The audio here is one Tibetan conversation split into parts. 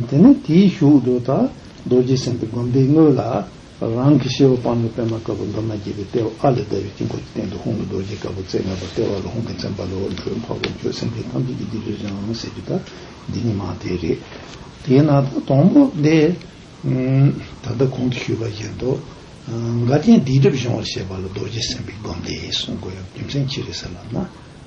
དེ་ནས་དེའི་གཞུག་ཏུ་ད་རྡོ་རྗེ་སེམས་དཔའི་བསྒོམ་པའི་དངོས་ལ། རང་གི་ཤེས་བ་སྤངས་པའི་པདྨ་དཀར་པོ་འདབ་མ་བརྒྱད་པའི་ལྟེ་བ་ཨ་ལས་བརྡལ་བའི་དཀྱིལ་འཁོར་གྱི་སྟེང་དུ་ཧོང་གི་རྡོ་རྗེ་དཀར་པོ་རྩེ་ལྔ་པ་ལྟེ་བ་ལ་ཧོང་གི་མཚན་པ་ལ་འོད་འཕྲོས་འཕགས་པའི་ཆོས་སེམས་ཅན་ཐམས་ཅད་ཀྱི་སྡིག་སྦྱོར་སྦྱང་ཟེར་རྒྱུ་ད་འདི་ཉིད་མ་དེ་རེད། དེས་ན་ད་དང་པོ་འདི། ད་ལྟ་གོང་དུ་ཞུས་པ་བཞིན་དུ། འགའ་རྐྱེན་སྡིག་སྒྲིབ་སྦྱོང་བར་བྱེད་པ་ལ་རྡོ་རྗེ་སེམས་དཔའི་བསྒོམ་བཟླས་གསུངས་དགོས་ཡོད་རྒྱུ་མཚན་ཅི་རེད་ཟེར་ལབ་ན།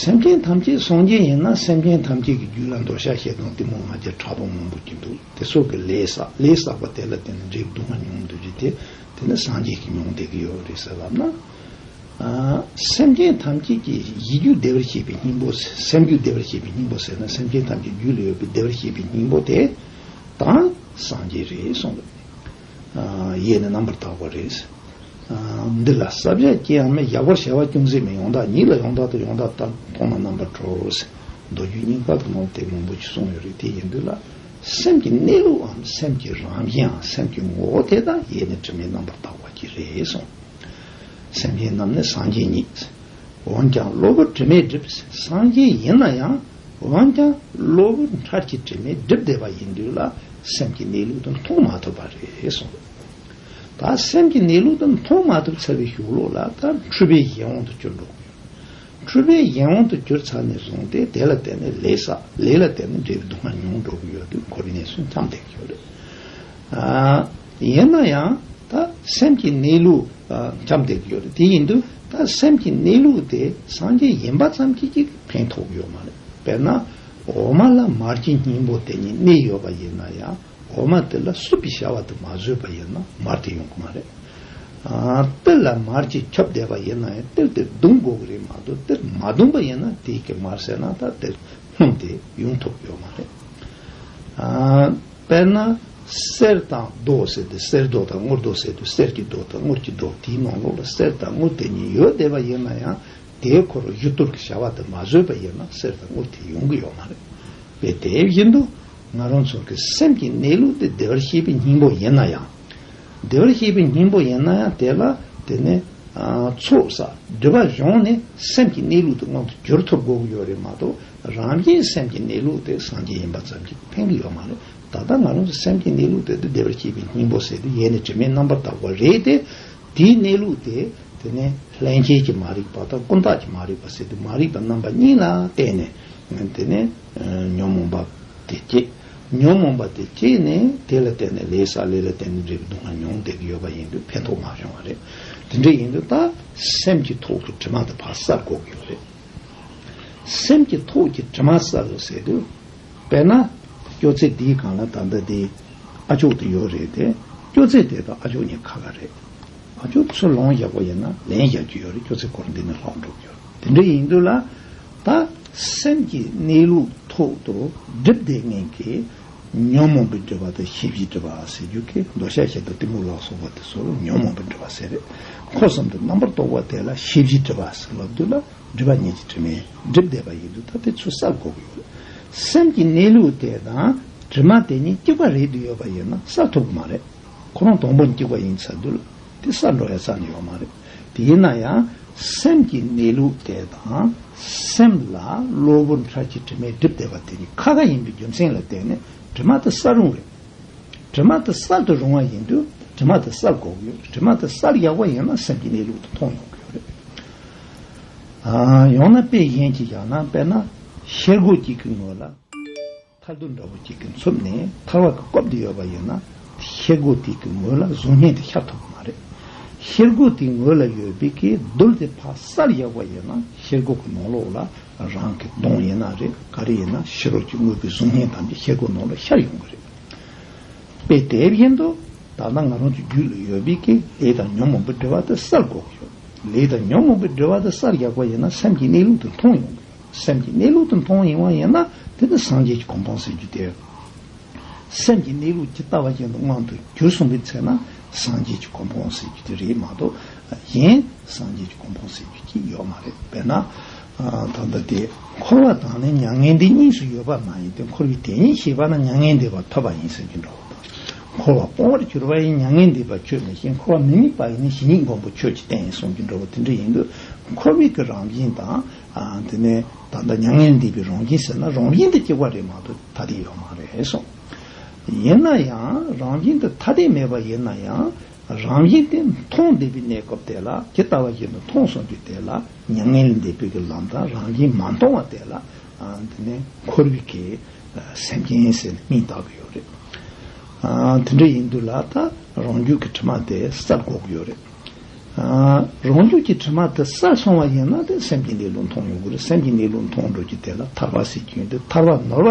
སེམས་ཅན་ཐམས་ཅད་སངས་རྒྱས་ཡིན་ན་སེམས་ཅན་ཐམས་ཅད་ཀྱི་རྒྱུད་ལ་མདོ་ཤ་ཤེད་དང་གཏི་མུག་ང་རྒྱལ་ཕྲ་པོ་མང་པོ་སྐྱེས་འདུག་དེ་སོགས་ཀྱི་ལས་བསགས་ལས་བསགས་པ་དེ་ལ་བརྟེན་ནས་འབྲས་བུ་སྡུག་བསྔལ་མྱོང་གི་འདུག་རྒྱུ་དེ་དེ་ནི་སངས་རྒྱས་ཀྱི་མྱོང་འདས་ཀྱི་ཡོད་རེད་ཟེར་ལབ་ན། སེམས་ཅན་ཐམས་ཅད་ཀྱི་ཡིད་རྒྱུད་བདེ་བར་བྱེད་པའི་སྙིང་པོ་སེམས་རྒྱུད་བདེ་བར་བྱེད་པའི་སྙིང་པོ་ཟེར་ན་སེམས་ཅན་ཐམས་ཅད་རྒྱུད་ལ་ཡོད་པའི་བདེ་བར་བྱེད་པའི་སྙིང་པོ་དེ་དང་སངས་རྒྱས་རེད་གསུངས་འདུག། ཡས་ནི་རྣམ་པར་དག་པ་རེད། འདི་ལ་ས་བརྒྱད་སྐྱེ་ཡང་མི་གཡག་པར་བྱ་བ་ཅུང་ཟད་མིན་ཡོངས་དག་ཉིད་ལ་ཡོངས་དག་དང་ཡོངས་དག་དག་མཐོང་ན་རྣམ་པར་གྲོལ་བའོ། མདོ་རྒྱུད་རྙིང་པ་དུ་མར་དེབ་མང་པོ་ཞིག་གསུངས་ཡོད་རེད་དེ་ཡིན་དུས་ལ་སེམས་ཀྱི་གནས་ལུགས་འམ་སེམས་ཀྱི་རང་བཞིན་འམ་སེམས་ཀྱི་ངོ་བོ་དེ་དག་ཡས་ནི་དྲི་མེད་རྣམ་པར་དག་པ་གྱི་རེད་གསུངས། སེམས་ཅན་རྣམས་ནི་སངས་རྒྱས་ཉིད། འོན་ཀྱང་བློ་བུར་དྲི་མས་བསྒྲིབས། སངས་རྒྱས་ཡིན་ན་ཡང། འོན་ཀྱང་གློ་བུར་མཐར་གྱིས་དྲི་མས་བསྒྲིབས་བསྡད་པ་ཡིན་དུས་ལ་སེམས་ཀྱི་གནས་ལུགས་དེ་མཐོང་མ་ཐུབ་པ་རེད་གསུངས། ད་སེམས་ཀྱི་གནས་ལུགས་དེ་མཐོང་མ་ཐུབ་ཚར་བའི་ཞོར་ལོ་ལ་ད་འཁྲུལ་པའི་ཡིད་འོང་དུ་གྱུར་འགྲོ་གི་ཡོད། འཁྲུལ་པའི་ཡིད་འོང་དུ་གྱུར་ཚར་ནས་བཟུང་སྟེ་དེ་ལ་བརྟེན་ནས་ལས་བསགས་ལས་ལ་བརྟེན་ནས་འབྲས་བུ་དུ་མ་མྱོང་འགྲོ་གི་ཡོད་དུས་འཁོར་བའི་གནས་སུ་མཚམས་འདེགས་ཀྱི་ཡོད་རེད། ཡིན་ན་ཡང་ད་སེམས་ཀྱི་གནས་ལུགས་འཁྱམས་བསྡད་ཀྱི་ཡོད་རེད་དེ་ཡིན་དུས་ད་སེམས་ཀྱི་གནས་ལུགས་དེ་སངས་རྒྱས་ཡིན་པ་ཙམ་གྱིས་ཀྱི་ཕན་ཐོགས་ཀྱི་ཡོད་མ་རེད་དཔེར་ན་འོ་མ་ལ་མར་གྱི་སྙིང་པོ་དེ་གཉིས་གནས་ཡོད་པ་ཡིན་ན་ཡང་འོ་མ་དེ་ལ་སྲུབ་པའི་བྱ་བ་དེ་མ་བཟོས་པ་ཡིན་ན་མར་དེ་ཡོང་གི་མ་རེད། ཏིལ་ལ་མར་གྱིས་ཁྱབ་བསྡད་པ་ཡིན་ན་ཡང་ཏིལ་དེ་བརྡུང་དགོས་ཀྱི་རེད་མ་གཏོགས་ཏིལ་མ་བརྡུངས་པ་ཡིན་ན་དེས་ཀྱི་མར་བསྲེགས་ན་ད་ཏིལ་སྣུམ་དེ་ཡོང་ཐུབ་ཀྱི་ཡོད་མ་རེད། དཔེར་ན། གསེར་དང་རྡོ་ཟེར་ཏེ་གསེར་རྡོ་དང་དངུལ་རྡོ་ཟེར་དུས་གསེར་གྱི་རྡོ་དང་དངུལ་གྱི་རྡོ་དེའི་ནང་ལོགས་ལ་གསེར་དང་དངུལ་དེ་གཉིས་ཡོད་བསྡད་པ་ཡིན་ན་ཡང་དེའི་འཁོར་བར་གཞུ་བཏུར་གྱི་བྱ་བ་དེ་མ་བཟོས་པ་ཡིན་ན་གསེར་དང་དངུལ་དེ་ཡོང་གི་ཡོད་མ་རེད། དཔེ་དེ་བཞིན་དུ་ང་རང་ཚོ་གི་སེམས་ཀྱི་གནས་ལུགས་དེ་བདེ་བར་གཤེགས་པའི་སྙིང་པོ་ཡིན་ན་ཡང། བདེ་བར་གཤེགས་པའི་སྙིང་པོ་ཡིན་ན་ཡང་དེ་ལ་དེ་ནས་ཚོགས་བསགས་བསྡུས་པ་བྱུང་ནས་སེམས་ཀྱི་གནས་ལུགས་དེ་ངང་དུ་གྱུར་ཐུབ་དགོས་ཀྱི་ཡོད་རེད་མ་གཏོགས་རང་རྒྱལ་གྱི་སེམས་ཀྱི་གནས་ལུགས་དེ་སངས་རྒྱས་ཡིན་པ་ཙམ་གྱིས་ཕན་གྱི་ཡོད་མ་རེད། ད་ལྟ་ང་རང་ཚོ་སེམས་ཀྱི་གནས་ལུགས་དེ་དུ་བདེ་བར་སྐྱེས་པའི་སྙིང་པོ་ཟེར་དུས་ཡེ་ནས་དྲི་མའི་རྣམ་པར་དག་པ་རེད་དེ། དེའི་གནས་ལུགས་དེ་དེ་ནས་ལྷན་སྐྱེས་ཀྱི་མ་རིག་པ་དང་ཀུན་བརྟགས་ཀྱི་མ་རིག་པ་ཟེར་དུས་མ་རིག་པ་རྣམ་པ་གཉིས་ལ་བརྟེན་ནས་དེ་ནས་ཉོན་མོངས་པ་དེ་སྐྱེས། ཉོན་མོངས་པ་དེ་སྐྱེས་ནས་དེ་ལ་བརྟེན་ནས་ལས་བསགས་ལས་ལ་བརྟེན་ནས་འབྲས་བུ་སྡུག་བསྔལ་མྱོང་བསྡད་ཀྱི་ཡོད་པ་ཡིན་དུས་ཕན་ཐོགས་མ་བྱུང་བ་རེད། དེ་འདྲ་ཡིན་དུས་ད་སེམས་ཀྱི་ཐོག་ཏུ་དྲི་མ་དང་བག་གསར་འགོག་གི་ཡོད་རེད། སེམས་ཀྱི་ཐོག་གི་དྲི་མ་བསལ་ལོ་ཟེར་དུས། དཔེར་ན། སྐྱོ་ཚད་འདིའི་སྒང་ལ་ད་ལྟ་དེ་ཨ་མཆོག་དེ་ཡོད་རེད་དེ། སྐྱོ་ཚད་དེ་དང་ཨ་མཆོག་གཉིས་ཁ་ཁ་རེད། ཨ་མཆོག་ཚུར་ལོང་བཞག་པ་ཡིན་ན་ལན་བཞག་རྒྱུ་ཡོད་རེད་སྐྱོ་ཚད་སྐོར་འདི་ནས་ལྷག་འགྲོ་གི་ཡོད་རེད་དེ་འདྲ་ཡིན་དུས་ལ། ད་སེམས་ཀྱི་གནས་ལུགས་ཐོག་ཏུ་སྒྲིབ་བསྡད་ངན་གྱི་ཉོན་མོངས་པའི་སྤྲོས་པ་དང་བཞི་བཞིའི་སྤྲོས་པ་ཟེར་རྒྱུ་གིས་མདོ་བཤད་བྱེད་དུ་གཏི་མུག་ལག་སོགས་པ་དེ་ཚོར་ཉོན་མོངས་པའི་སྤྲོས་པ་ཟེར། འཁོར་གསུམ་དུ་རྣམ་པར་རྟོག་པ་དེ་ལ་བཞི་བཞིའི་སྤྲོས་པ་ཟེར་ལ་བསྡུས་ལ་སྒྲིབ་པ་ཉིད་ཀྱི་དྲི་མས་བསྒྲིབས་བསྡད་པ་ཡིན་དུས་ད་དེ་ཚོ་བསལ་དགོས་ཀྱི་ཡོད། སེམས་ཀྱི་གནས་ལུགས་དེ་དང་དྲི་མ་དེ་གཉིས་གཅིག་པ་རེད་དུ་ཡོད་པ་ཡིན་ན་བསལ་ཐུབ་ཀྱི་མ་རེད། ཁོ་རང་དང་པོ་གཅིག་པ་ཡིན་ཚར་དུས་ལ་དེ་བསལ་འགྲོ་ཡ་ཚར་ནི་ཡོད་མ་རེད། དེས་ན་ཡང་སེམས་ཀྱི་གནས་ལུགས་དེ་དང་སེམས་ལ་གློ་བུར་འཁྱར་གྱི་དྲི་མས་བསྒྲིབས་བསྡད་པ་དེ་ནི་ཁ་ཁ་ཡིན་པའི་རྒྱུ་མཚན་ལ་བརྟེན་ནས་དྲི་མ་དེ་གསར་རུང་བས། དྲི་མ་དེ་གསར་དུ་རུང་བ་ཡིན་དུས་དྲི་མ་དེ་གསར་འགོག་ཡོད་དྲི་མ་དེ་གསར་ཡག་པོ་ཡིན་ན་སེམས་ཀྱི་གནས་ལུགས་དེ་མཐོང་ཡོང་གི་ཡོད་རེད། ཡང་ན་དཔེ་གཞན་གྱིས་བཞག་ན་དཔེར་ན་ཤེལ་སྒོ་གཅིག་གི་ངོས་ལ། ཐར་རྡོ་འདྲ་བོ་གཅིག་གི་འཚུབ་ནས་ཐར་བ་གི་སྐོབ་དེ་ཡོད་པ་ཡིན་ན། ཤེལ་སྒོ་དེ་གི་ངོས་ལ་གཟུགས་བརྙན་དེ་ཤར་ཐུབ་པ་མ་རེད། ཤེལ་སྒོ་དེ་ངོས་ལ་ཡོད་པའི་གི་རྡུལ་དེ་ཕ་སར་གཡག་པ་ཡིན་ན་ཤེལ་སྒོ་གི་ནང་ལོགས་ལ་རང་གི་གདོང་ཡིན་ན་རེད་ག་རེ་ཡིན་ན་ཕྱི་རོལ་གྱི་དངོས་པོའི་གཟུགས་བརྙན་ཐམས་ཅད་ཤེལ་སྒོ་ནང་ལ་ཤར་ཡོང་གི་རེད། དཔེ་དེ་བཞིན་དུ་ད་ལྟ་ང་རང་གི་རྒྱུད་ལ་ཡོད་པའི་གི་ལས་དང་ཉོན་མོངས་པའི་འབྲེལ་བ་དེ་སར་འགོག་གི་ཡོད། ལས་དང་ཉོན་མོངས་པའི་འབྲེལ་བ་དེ་སར་གཡག་པ་ཡིན་ན་སེམས་ཀྱི་གནས་ལུགས་དེ་མཐོང་ཡོང་གི་ཡོད། སེམས་ཀྱི་གནས་ལུགས་དོན་མཐོང་ཡིན་དབང་ཡིན་ན་དེ་ནི་སངས་རྒྱས་ཀྱི་གོ་འཕང་ཟེར་རྒྱུ་དེ། སེམས་ཀྱི་གནས་ལུགས་ཇི་ལྟ་བ་བཞིན་དུ་དབང་དུ་གྱུར་གསུངས་པའི་ཚེ་ན་སངས་རྒྱས་ཀྱི་གོ་འཕང་ཟེར་རྒྱུ་དེ་རེད་མ་གཏོགས་གཞན་སངས་རྒྱས་ཀྱི་གོ་འཕང་ཟེར་རྒྱུ་གཅིག་ཡོད་མ་རེད་དཔེར་ན། ད་ལྟ་དེ་འཁོར་བ་དང་ནི་མྱ་ངན་འདས་གཉིས་སུ་ཡོད་པ་མ་ཡིན་ཏེ་འཁོར་བའི་དེ་ཉིད་ཤེས་པ་ན་མྱ་ངན་འདས་པ་ཐོབ་པ་ཡིན་ཟེར་རྒྱུ་འདྲ་བོ་དང། འཁོར་བ་སྤོང་བར་གྱུར་པ་ཡིན་མྱ་ངན་འདས་པ་ཁྱོད་མི་ཤེས་འཁོར་བ་མི་དམིགས་པ་ཡིན་ནི་གཞི་ཉིད་མགོན་པོ་ཁྱོད་ཀྱིས་བསྟན་ཡིན་གསུངས་རྒྱུ་འདྲ་བོ་དེ་འདྲ་ཡིན་དུས་འཁོར་བའི་གི་རང་བཞིན་དང་དེ་ནས་ད་ལྟ་མྱ་ངན་འདས་པའི་རང་བཞིན་ཟེར་ན་རང་བཞིན་དུ་སྐྱེ་བ་རེད་མ་གཏོགས་ཐ་དད་ཡོད་མ་རེད་གསུངས། ཡིན་ན་ཡང་རང་བཞིན་དུ་ཐ་དད་མེད་པ་ཡིན་ན་ཡང་རང་བཞིན་དེ་མཐོང་བདེ་བའི་གནས་སྐབས་དེ་ལ་ཇི་ལྟ་བ་བཞིན་དུ་མཐོང་སོང་རྒྱུ་དེ་ལ་མྱ་ངན་ལས་འདས་པོའི་གི་ལམ་དང་རང་བཞིན་མ་མཐོང་བ་དེ་ལ་དེ་ནས་འཁོར་བའི་གི་སེམས་ཅན་ཟེར་ནས་སྙིང་བཏགས་གི་ཡོད་རེད། དེ་འདྲ་ཡིན་དུས་ལ་ད་རང་རྒྱུད་ཀྱི་དྲི་མ་དེ་ས་འགོག་གི་ཡོད་རེད། རང་རྒྱུད་ཀྱི་དྲི་མ་དེ་ས་སོང་བ་ཡིན་ན་དེ་སེམས་ཀྱི་གནས་ལུགས་མཐོང་ཡོང་གི་རེད་སེམས་ཀྱི་གནས་ལུགས་མཐོང་འགྲོ་གི་དེ་ལ་ཐར་བ་ཟེར་རྒྱུ་ཡིན་དེ་ཐར་བ་ནོར་བ་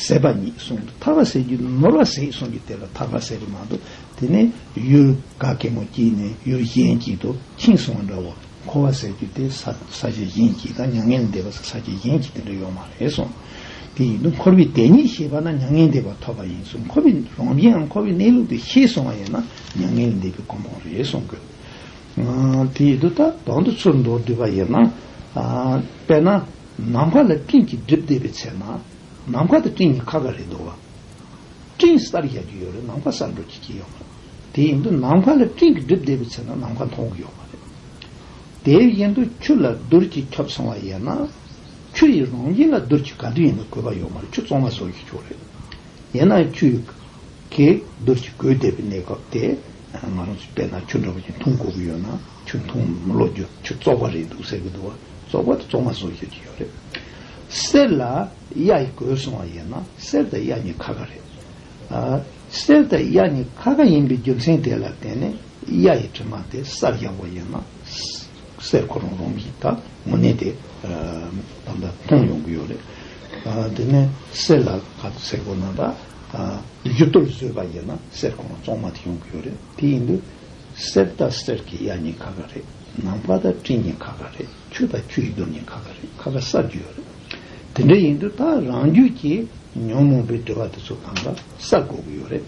ཟད་པ་ཉིད་གསུངས་འདུག་ཐར་བ་ཟེར་རྒྱུ་ནོར་བ་ཟད་གསུངས་ཀྱི་དེ་ལ་ཐར་བ་ཟེར་གི་མ་འདུག་དེ་ནི་ཡུལ་ག་གེ་མོ་སྐྱིད་ནས་ཡུལ་གཞན་སྐྱིད་དུ་ཁྱིང་སོང་བ་འདྲ་བོ་འཁོར་བ་ཟེར་རྒྱུ་དེ་ས་ས་ཆ་གཞན་སྐྱིད་དང་མྱ་ངན་ལས་འདས་པ་ས་ས་ཆ་གཞན་སྐྱིད་དེ་འདྲ་ཡོད་མ་རེད་གསུངས། དེ་ཡིན་དུ་འཁོར་བའི་དེ་ཉིད་ཤེས་པ་ན་མྱ་ངན་འདས་པ་ཐོབ་པ་ཡིན་གསུངས་འཁོར་བའི་རང་བཞིན་འམ་འཁོར་བའི་གནས་ལུགས་དེ་ཤེས་སོང་བ་ཡིན་ན། མྱ་ངན་འདས་པའི་གོང་བུ་རེ་ཟུང་དགོས། དེ་ཡི་དུ་ད་དོང་དུ་ཚུར་འདོར་བསྡུས་པ་ཡིན། དཔེར་ན། ནམ་མཁའ་ལ་སྤྲིན་གྱིས་བསྒྲིབས་བསྡད་པའི་ཚེ་ན། ནམ་མཁའ་དང་སྤྲིན་གཉིས་ཁ་ག་རེ་འདུག་བ། སྤྲིན་གསར་རྒྱག་གི་ཡོད་རེད་ནམ་མཁའ་གསར་འགྲོ་གྱི་ཀྱི་ཡོད་མ་རེད། དེ་ཡིན་དུ་ནམ་མཁའ་ལ་སྤྲིན་གྱིས་བསྒྲིབས་བསྡད་པའི་ཚེ་ན་ནམ་མཁའ་མཐོང་གི་ཡོད་མ་རེད། དེ་ཡིན་དུ་ཆུ་ལ་རྡུལ་གྱིས་ཁྱབ་སོང་བ་ཡིན་ན། ཆུ་ཡི་རང་བཞིན་ལ་རྡུལ་གྱི་ག་དུས་ཡིན་པ་དགོས་པ་ཡོད་མ་རེད་ཆུ་བཙོང་བ་བཟོ་གི་ཆོག་རེད། ཡིན་ན་ཆུ་གེ་འདུར་གྱི་གོས་འདེབས་པའི་གནས་སྐབས་དེ་ང་རང་ཚོས་དཔེར་ན་ཆུ་འདྲ་བོ་ཞིག་འཐུང་དགོས་ཀྱི་ཡོད་ན་ཆུ་འཐུང་ལོ་རྒྱུ་ཆུ་བཙོག་པ་རེད་འདུག་ཟེར་གྱི་འདུག་བཙོག་པ་དེ་བཙོག་མ་བཟོ་ཤོད་ཀྱི་ཡོད་རེད། གསེར་ལ་གཡའ་ཡིས་གོས་སོང་བ་ཡིན་ན་གསེར་དང་གཡའ་གཉིས་ཁ་ཁ་རེད། གསེར་དང་གཡའ་གཉིས་ཁ་ཁ་ཡིན་པའི་རྒྱུ་མཚན་དེ་ལ་བརྟེན་ནས་གཡའ་ཡི་དྲི་མ་དེ་གསར་རྒྱག་པ་ཡིན་ན། སའི་གོ་རོང་རོང་གིས་ད་མོ་ནད་དེ་ད་ད་མཐོང་ཡོང་གི་ཡོད་རེད། དེ་ནས་སའི་ལ་ཁ་དུ་སའི་གོ་ནང་དང་རྒྱུ་གཏོར་བཟོས་པ་ཡིན་ན་སའི་གོ་རོང་བཙོང་མ་དེ་ཡོང་གི་ཡོད་རེད་དེ་ཡིན་དུས་སའི་ད་སའི་གི་གཡའ་ཉིན་ཁ་ཁ་རེད་ནང་པ་ད་སྤྲིན་ཉིན་ཁ་ཁ་རེད་ཁྱུ་ད་ཁྱུ་ཡི་གདོན་ཉིན་ཁ་ཁ་རེད་ཁ་ཁ་སར་རྒྱུ་ཡོད་རེད། དེ་འདྲ་ཡིན་དུས་ད་རང་རྒྱུད་ཀྱི་ཉོན་མོངས་པའི་དྲི་བ་དེ་ཚོ་གང་ག་སར་གོ་གི་ཡོད་རེད།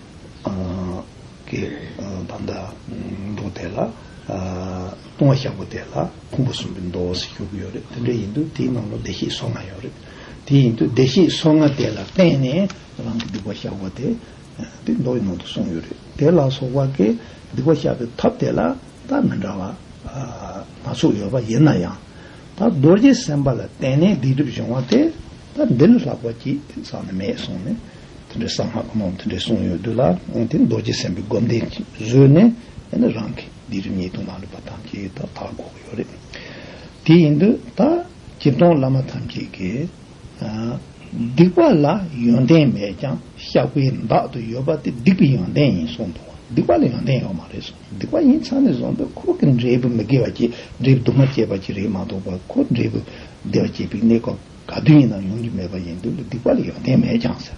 ཀྱི་བར་འདའ། མདོ་དེ་ལ། ལྟུང་བ་ཞག་པོ་དེ་ལ་ཕུང་པོ་གསུམ་པའི་མདོ་ཞེས་བརྗོད་ཀྱི་ཡོད་རེད། དེ་འདྲ་ཡིན་དུས་དེའི་ནང་ལ་བདེ་གཤེགས་སོ་ལྔ་ཡོད་རེད། དེ་ཡིན་དུས་བདེ་གཤེགས་སོ་ལྔ་དེ་ལ་བརྟེན་ནས་རང་གི་སྡིག་པ་བཤགས་པ་དེ། དེ་མདོ་ཡི་ནང་དུ་གསུངས་ཡོད་རེད། དེ་ལ་སོགས་པ་ཀྱི་སྡིག་པ་བཤགས་པའི་ཐབས་དེ་ལ་ཐབས་མི་འདྲ་བ་སྣ་ཚོགས་ཡོད་པ་ཡིན་ན་ཡང། ད་རྡོ་རྗེ་སེམས་དཔའ་ལ་བརྟེན་ནས་སྡིག་སྒྲིབ་སྦྱོང་བ་སྟེ། ད་འདི་ལ་ལྷག་པ་ཅི་དེང་སང་ནས་མེད་གསུངས་ནས། དེ་འདྲའི་གསང་སྔགས་ནང་དེ་འདྲའི་གསུངས་ཡོད་དུས་ལ་དེ་རྡོ་རྗེ་སེམས་དཔའི་སྒོམ་བཟླས་བཟོས་ནས་ཡང་ན་རང་གིས་སྡིག་སྒྲིབ་ཉེས་ལྟུང་མ་ལུས་པ་ཐམས་ཅད་ཡོད་ད་དག་འགོག་ཡོད་རེད། དེ་ཡིན་དུས་ད། བགེགས་གཏོང་བླ་མ་ཐམས་ཅད་ཀྱི། སྡིག་པ་ལ་ཡོན་ཏན་མེད་ཀྱང་བཤགས་པའི་བདག་ཏུ་ཡོད་པ་དེ་སྡིག་པའི་ཡོན་ཏན་ཡིན་གསུངས་འདུག་སྡིག་པ་ལ་ཡོན་ཏན་ཡོད་མ་རེད་གསུངས་སྡིག་པ་ཡིན་ཚང་ནས་བཟུང་སྟེ་འཁོར་གྱི་འབྲས་བུ་མི་དགེ་བ་སྐྱེད་འབྲས་བུ་དུ་མ་སྐྱེད་པ་ཅི་རེད་མ་གཏོགས་པར་འཁོར་འབྲས་བུ་བདེ་བ་སྐྱེད་པའི་གནས་སྐབས་ག་དུས་ཡིན་ནའང་ཡོང་རྒྱུ་མེད་པ་ཡིན་དུས་ལ་སྡིག་པ་ལ་ཡོན་ཏན་མེད་ཀྱང་ཟེར།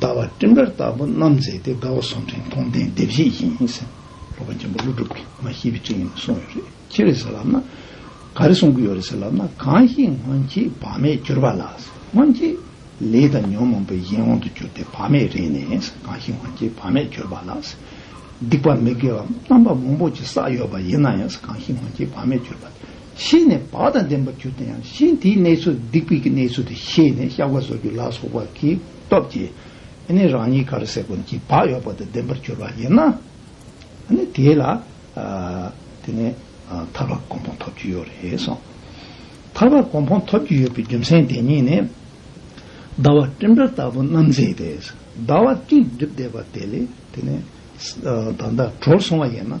ཟླ་བ་སྤྲིན་དཀར་ལྟ་བུ་རྣམ་མཛེས་ཏེ་དགའ་བ་ཟུང་འབྲེལ་མཐོང་ལྡན་བདེ་བཞི་ཡིན། ལྷོ་ཁ་ཆེན་པོ་ཀླུ་སྒྲུབ་ཀྱིས་མ་ཤེས་པའི་སྤྲིན་ཡིན་མ་གསུངས་ཡོད་རེད་ཁྱེད་རེད་ཟེར་ལབ་ན། ག་རེ་གསུང་གི་ཡོད་རེད་ཟེར་ལབ་ན་གང་ཞིག་སྔོན་གྱི་བག་མེད་གྱུར་པ་ལ་སྔོན་གྱི་ལས་དང་ཉོན་མོངས་པའི་ཡིད་འོང་དུ་གྱུར་ཏེ་བག་མེད་རེད་ནས་གང་ཞིག་སྔོན་གྱི་བག་མེད་གྱུར་པ་ལ་སྡིག་པ་མི་དགེ་བ་རྣམ་པ་མང་པོ་ཅི་བསགས་ཡོད་པ་ཡིན་ན་ཡང་གང་ཞིག་སྔོན་གྱི་བག་མེད་གྱུར་པ་ཤེས་ནས་བག་དང་ལྡན་པར་གྱུར་ཏོ་ཡང་ཤིང་དེའི་གནས་ཚུལ་སྡིག་པའི་གནས་ཚུལ་དེ་ཤེས་ནས་བཤགས་པ་བཟོ་རྒྱུ་ལ་སོགས་པ་གྱི་སྟོབས་ཀྱིས་ནི་རང་ཉིད་གར་སའི་ཀུན་གྱི་བག་ཡོད་པ་དང་ལྡན་པར་གྱུར་པ་ཡིན་ན་ནི་དེ་ལ་དེ་ནས་ཐར་པ་གོང་འཕང་འཐོབ་རྒྱུ་ཡོད་རེད་གསུངས། ཐར་པ་གོང་འཕང་འཐོབ་རྒྱུ་ཡོད་པའི་རྒྱུ་མཚན་དེ་ཉིད་ནི། ཟླ་བ་སྤྲིན་འདྲ་ལྟ་བུ་རྣམ་མཛེས་ཏེ་ཟླ་བ་སྤྲིན་བསྒྲིབས་བསྡད་པ་དེ་ལས་དེ་ནས་ད་ལྟ་གྲོལ་སོང་བ་ཡིན་ན།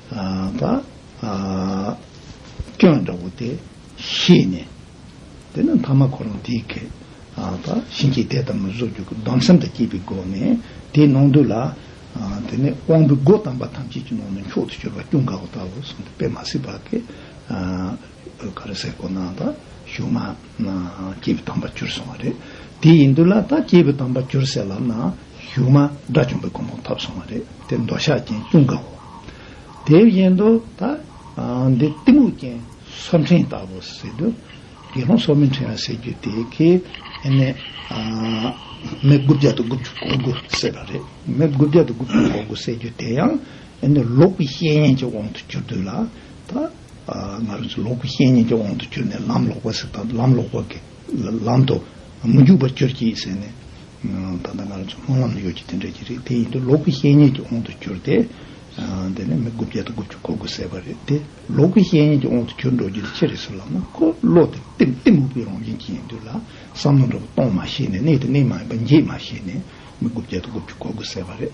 པ། སྐྱོན་འདྲ་བོ་དེ་ཤེས་ནས། དེ་ནི་ཕ་མ་ཁོ་རང་དེའི་གེགས། པ། བྱིན་གྱིས་དེ་ལྟར་མི་བཟོ་རྒྱུ་གདམས་སེམས་དང་བཅས་པའི་སྒོ་ནས་དེའི་ནང་དུ་ལ། དེ་ནས་དབང་པོའི་སྒོ་དམ་པ་ཐམས་ཅད་ཀྱི་ནང་ནས་མཆོག་ཏུ་གྱུར་པ་སྐྱོན་དགའ་བོ་ལྟ་བུ་གསུམ་དུ་དཔེ་མ་སྲིད་པ་གེགས། བོད་ཁ་རི་སའི་གོ་ན་ད་གཞུག་མ་ན་སྐྱེས་བུ་དམ་པ་གྱུར་སོང་བ་རེད། དེ་ཡིན་དུས་ལ་ད་སྐྱེས་བུ་དམ་པ་གྱུར་སའི་ལམ་ན་གཞུག་མ་དགྲ་བཅོམ་པའི་གོང་བུ་འཐབ་སོང་བ་རེད་དེ་མདོ་ཤག་རྒྱན་སྐྱུང་དགའ་བོ། དེ་བཞིན་དུ་ད་འདི་གཏི་མུག་རྐྱེན་སོབ་འཕྲེང་ལྟ་བུ་ཟེར་དུས་དགེ་སློང་སོབ་མི་འཕྲེང་ཟེར་རྒྱུ་དེ་གི་ནི་མི་དགུ་བརྒྱ་དང་དགུ་བཅུ་གོ་དགུ་ཟེར་བ་རེད་མི་དགུ་བརྒྱ་དང་དགུ་བཅུ་གོ་དགུ་ཟེར་རྒྱུ་དེ་ཡང་ནི་ལོག་པའི་བཤད་ཡན་གྱི་དབང་དུ་གྱུར་དུས་ལ་ད། ང་རང་ཚོ་ལོག་པའི་བཤེས་གཉེན་གྱི་དབང་དུ་གྱུར་ནས་ལམ་ལོག་པ་ཟིན་དང་ལམ་ལོག་པ་གི་ལམ་དུ་མི་འཇུག་པར་གྱུར་ཅིག་ཟེར་ནས། ད་ལྟ་ང་རང་ཚོ་སྨོན་ལམ་ལ་ཡོད་ཀྱི་དེ་འདྲ་ཞིག་རེད་དེ་ཡིན་དུས་ལོག་པའི་བཤེས་གཉེན་གྱི་དབང་དུ་གྱུར་ཏེ། དེ་ནས་མི་དགུ་བརྒྱ་དང་དགུ་བཅུ་གོ་དགུ་ཟད་པ་རེད་དེ་ལོག་པའི་བཤེས་གཉེན་གྱི་དབང་དུ་གྱུར་འགྲོ་རྒྱུ་དེ་ཅི་རེད་ཟེར་ལབ་ན་ཁོ་བློ་དེ་གཏི་མུག་པའི་རང་བཞིན་གྱི་ཡིན་དུས་ལ་བསམ་ན་འགྲོ་བ་སྟོང་མ་ཤེས་ནས་གནས་དེ་གནས་མ་ཡིན་པ་འགྱེད་མ་ཤེས་ནས་མི་དགུ་བརྒྱ་དང་དགུ་བཅུ་གོ་དགུ་ཟད་པ་རེད།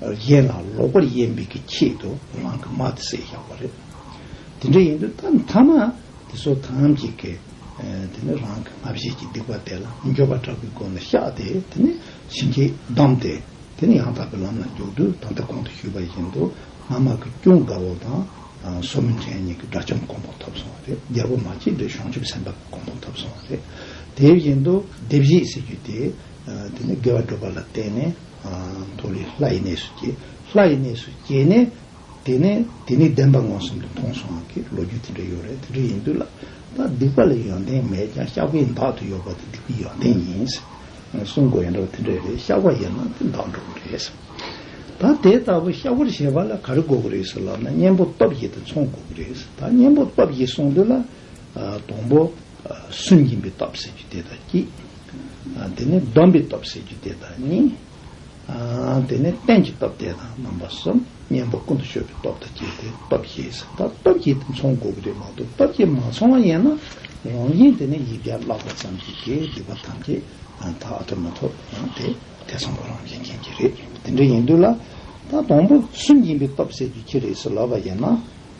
གཞན་ལ་ལོག་པར་དབྱེ་འབྱེད་ཀྱི་ཆེད་དུ་ངང་གིས་མ་དེ་བསྲེགས་བཞག་པ་རེད། དེ་འདྲ་ཡིན་དུས་ད་མཐའ་མ་དེ་ཚོ་ཐམས་ཅད་ཀྱིས་དེ་ནི་རང་གི་ང་བཞིན་གྱི་སྡིག་པ་དེ་ལ་འགྱོད་པ་དྲག་པོའི་སྒོ་ནས་བཤགས་ཏེ་དེ་ནི་བྱིན་གྱིས་བསྡམས་ཏེ་དེ་ནི་ཡང་དག་པའི་ལམ་ལ་འཇུག་དུས་ད་ལྟ་གོང་དུ་ཞུས་པ་བཞིན་དུ་སྔ་མ་གི་ཅུང་དགའ་བོ་དང་སོ་མི་འབྲེལ་གཉིས་ཀྱི་དགྲ་བཅོམ་གོང་འཕོ་ཐོབ་སོང་བ་རེད་རྒྱལ་པོ་མ་སྐྱེས་དགྲའི་གཞུང་ཆུབ་སེམས་དཔའ་གོང་འཕོ་ཐོབ་སོང་བ་རེད། དེ་བཞིན་དུ་བདེ་བཞིའི་སྲིད་བྱུས་དེ། དེ་ནས་དགེ་བ་སྒྲུབ་པ་ལ་བརྟེན་ནས་མཐོ་རིས་ལྷ་ཡི་གནས་སུ་སྐྱེ། ལྷ་ཡི་གནས་སུ་སྐྱེས་ནས་དེ་ནས་དེ་ནི་བདེན་པ་མངོན་སུམ་དུ་མཐོང་སོང་གི་ལོ་རྒྱུས་དེ་འདྲ་ཡོད་རེད་དེ་འདྲ་ཡིན་དུས་ལ་ད་སྡིག་པ་ལ་ཡོན་ཏན་མེད་ཀྱང་བཤགས་པའི་མདག་དུ་ཡོད་པ་དེ་སྡིག་པའི་ཡོན་ཏན་ཡིན། གསུང་དགོས་ཡིན་དྲགས་པ་དེ་འདྲ་རེད་བཤགས་པ་ཡིན་ན་དེ་མདག་འགྲོ་གི་རེད། ད་དེ་ལྟ་བུ་བཤགས་པར་བྱེད་པ་ལ་ག་རེ་དགོས་ཀྱི་རེད་ཟེར་ལབ་ན་གཉེན་པོ་སྟོབས་བཞི་དེ་འཚོང་དགོས་ཀྱི་རེད། ད་གཉེན་པོ་སྟོབས་བཞི་སོང་དུས་ལ། སྡོང་པོ། སུན་འབྱིན་པའི་སྟོབས་ཟེར་རྒྱུ་དེ་དང་གཅིག། དེ་ནས་སྡོམ་པའི་སྟོབས་ཟེར་རྒྱུ་དེ་དང་གཉིས། དེ་ནས་རྟེན་གྱི་སྟོབས་དེ་དང་རྣམ་པ་གསུམ། གཉེན་པོ་ཀུན་ཏུ་གཞོལ་བའི་སྟོབས་དང་བཅས་ཏེ་སྟོབས་བརྒྱད་ཟེར། ད་སྟོབས་བརྒྱད་དེ་མཚུངས་དགོས་ཀྱི་རེད་མ་གཏོགས་སྟོབས་བརྒྱད་མ་མཚུངས་བ་ཡིན་ན་རང་བཞིན་དེ་ནི་ཡིག་བརྒྱ་བཀླགས་པ་ཙམ་གྱིས་དགེ་སྡིག་པ་ཐམས་ཅད་དག་ཐོབ་མ་ཐོབ་ཡང་དེ་དེ་ཚོམ་བུ་རང་བཞིན་མཁྱེན་གྱི་རེད་དེ་འདྲ་ཡིན་དུས་ལ། ད་སྡོང་པོ་སུན་འབྱིན་པའི་སྟོབས་ཟེར་རྒྱུ་ཁྱི་རེད་ཟེར་ལབ་པ་ཡིན་ན།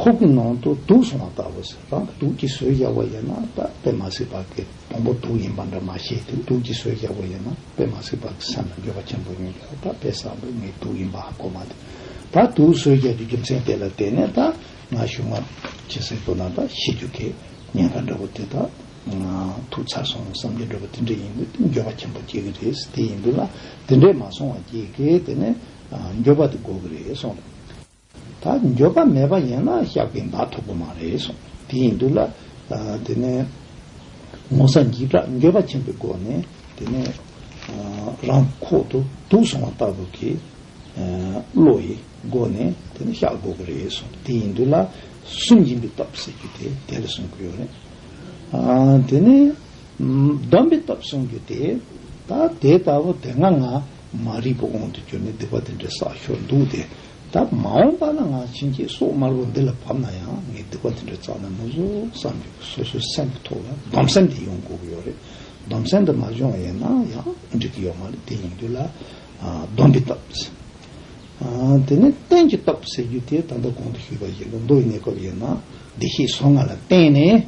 ཁོག་གི་ནང་དུ་དུག་སོང་བ་ལྟ་བུ་ཟེར་རང་གི་དུག་གི་ཟོལ་རྒྱག་པ་ཡིན་ན་སྟབས་བདེ་མ་སྲིད་བག་གི་བོང་བུ་དུག་ཡིན་པ་འདྲ་མ་ཤེས་དུས་དུག་གི་ཟོལ་རྒྱག་པ་ཡིན་ན་དཔེ་མ་སྲིད་བག་གི་སེམས་ལ་འགྱོད་པ་ཆེན་པོ་ཡོང་གི་ལ་ད་དཔེ་བཟང་པོས་ངའི་དུག་ཡིན་པ་ཧ་གོ་མ་ཐུབ་ད་དུག་ཟོལ་རྒྱག་རྒྱུ་རྒྱུ་མཚན་དེ་ལ་བལྟས་ནས་ད་ང་ཞུགས་མ་ཇི་སྲིད་དུ་ན་ད་ཤི་རྒྱུ་དེ་ཉེན་ཁ་འདྲ་བོ་དེ་ད་ང་དུག་ཚར་སོང་བསམ་གྱི་འདྲ་བོ་དེ་འདྲ་ཡིན་དུས་དེ་འགྱོད་པ་ཆེན་པོ་སྐྱེ་གི་རེད་དེ་ཡིན་དུས་ལ་དེ་འདྲས་མ་སོང་བ་སྐྱེ་གི་དེ་ནས་འགྱོད་པ་དེ་འགོ་གི་རེད་སོང་ད་འགྱོད་པ་མེད་པ་ཡིན་ན་བཤགས་པའི་མདའ་ཐུག་པོ་མ་རེད་གསུངས་དེ་ཡིན་འདུག་ལ། དེ་ནས་ངོ་ས་འཇིགས་སྐྲག་འགྱོད་པ་ཆེན་པོའི་སྒོ་ནས་དེ་ནས་རང་ཁོག་ཏུ་དུག་སོང་བ་ལྟ་བུ་གི་བློ་ཡི་སྒོ་ནས་དེ་ནས་བཤགས་དགོས་ཀྱི་རེད་གསུངས་དེ་ཡིན་འདུག་ལ། སུན་འབྱིན་པའི་སྟོབས་ཟེར་རྒྱུ་དེ་དེ་ལ་གསུངས་ཀྱི་ཡོད་རེད། དེ་ནས་སྡོམ་པའི་སྟོབས་གསུངས་རྒྱུ་དེ་ད་དེ་ལྟ་བུ་དེ་སྔ་ང་མ་རིག་པ་དབང་དུ་གྱུར་ནས་སྡིག་པ་དེ་འདྲའི་བསགས་ཞོར་འདུག་དེ། ད་མ་འོངས་པ་ན་ང་བྱིན་གྱིས་སོགས་དམར་པོ་འདི་ལ་བབས་ན་ཡང་ངའི་སྡིག་པ་དེ་འདྲ་ཙམ་ཡང་མི་བཟོ་བསམ་གྱི་འདུག་སོ་སོའི་སེམས་ཀྱི་ཐོག་ལ་སྡོམ་སེམས་དེ་ཡོང་དགོས་ཀྱི་ཡོད་རེད། སྡོམ་སེམས་དེ་མ་འབྱོངས་ཡོད་ན་ཡང་འགྲིག་གི་ཡོད་མ་རེད་དེ་ཡིན་དུས་ལ་སྡོམ་པའི་སྟོབས། དེ་ནས་རྟེན་གྱི་སྟོབས་ཟེར་རྒྱུ་དེ་ད་ལྟ་གོང་དུ་ཞུས་པ་བཞིན་དུ་མདོ་ཡི་གནས་སྐབས་ཡིན་ན་བདེ་གཤེགས་སོ་ལྔ་ལ་བརྟེན་ནས་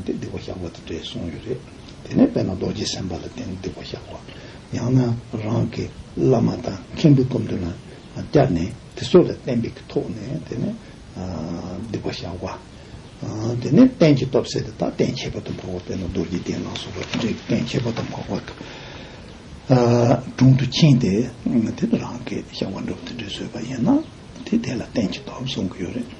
ཏིང་འདི་བ་བཞག་པ་དང་འདྲེས་གསུངས་ཡོད་རེད། དེ་ནས་དཔལ་ནཱ་རྡོ་རྗེ་སེམས་དཔའ་ལ་ཏིང་འདི་བ་བཞག་པ། ཡང་ན་རང་གི་བླ་མ་དང་མཁན་པོའི་སྐུ་མདུན་ལ་བསྐྱར་ནས་དེ་སོགས་ལ་གཏན་འབེབས་ཀྱི་ཐོག་ནས་དེ་ནས་འདི་བ་བཞག་པ། དེ་ནས་གཏན་གྱི་སྟོབས་ཟེར་དེ་དག་གཏན་ཁྱད་པར་དུ་འཕགས་པ་དཔལ་ནཱ་རྡོ་རྗེ་གདན་ལ་སོགས་པ་དེ་འདྲའི་གཏན་ཁྱད་པར་དུ་འཕགས་པ་དྲུང་དུ་ཕྱིན་ཏེ་དེ་ནས་རང་གི་བཞག་པ་འགྲུབ་དེ་འདྲས་བཟོས་པ་ཡིན་ན་དེ་དེ་ལ་གཏན་གྱི་སྟོབས་གསུང་གི་ཡོད་རེད།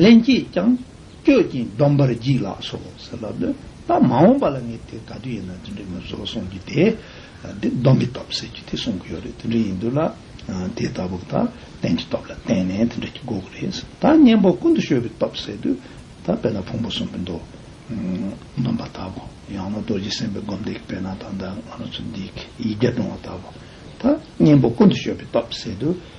ལྷན་སྐྱེས་ཀྱང་སྐྱོད་ཅིང་སྡོམ་པར་བགྱིད་ལགས་སོ་ཟེར་ལབ་ནས་ད་མ་འོངས་པ་ལ་ངས་དེ་ག་དུས་ཡིན་ན་དེ་འདྲའི་མི་བཟོ་གསུངས་རྒྱུ་དེ་དེ་སྡོམ་པའི་སྟོབས་ཟེར་རྒྱུ་དེ་གསུང་གི་ཡོད་རེད་དེ་འདྲ་ཡིན་དུས་ལ་དེ་ལྟ་བུ་ད་གཏན་གྱི་སྟོབས་ལ་བརྟེན་ནས་དེ་འདྲ་གྱི་དགོས་ཀྱི་རེད་ཟེར་ད་གཉེན་པོ་ཀུན་ཏུ་བཤོས་པའི་སྟོབས་ཟེར་དུས་ད་དཔེར་ན་ཕུང་པོ་གསུམ་པོའི་མདོ་སྡོམ་པ་ལྟ་བུ་ཡང་ན་རྡོ་རྗེ་སེམས་དཔའི་སྒོམ་བཟླས་ཀྱི་དཔེར་ན་ད་ང་རང་ཚོ་འདིས་ཡིག་བརྒྱ་སྒྲུང་བ་ལྟ་བུ་ད་གཉེན་པོ་ཀུན་ཏུ་བཤོས་པའི་སྟོབས་ཟེར་དུས།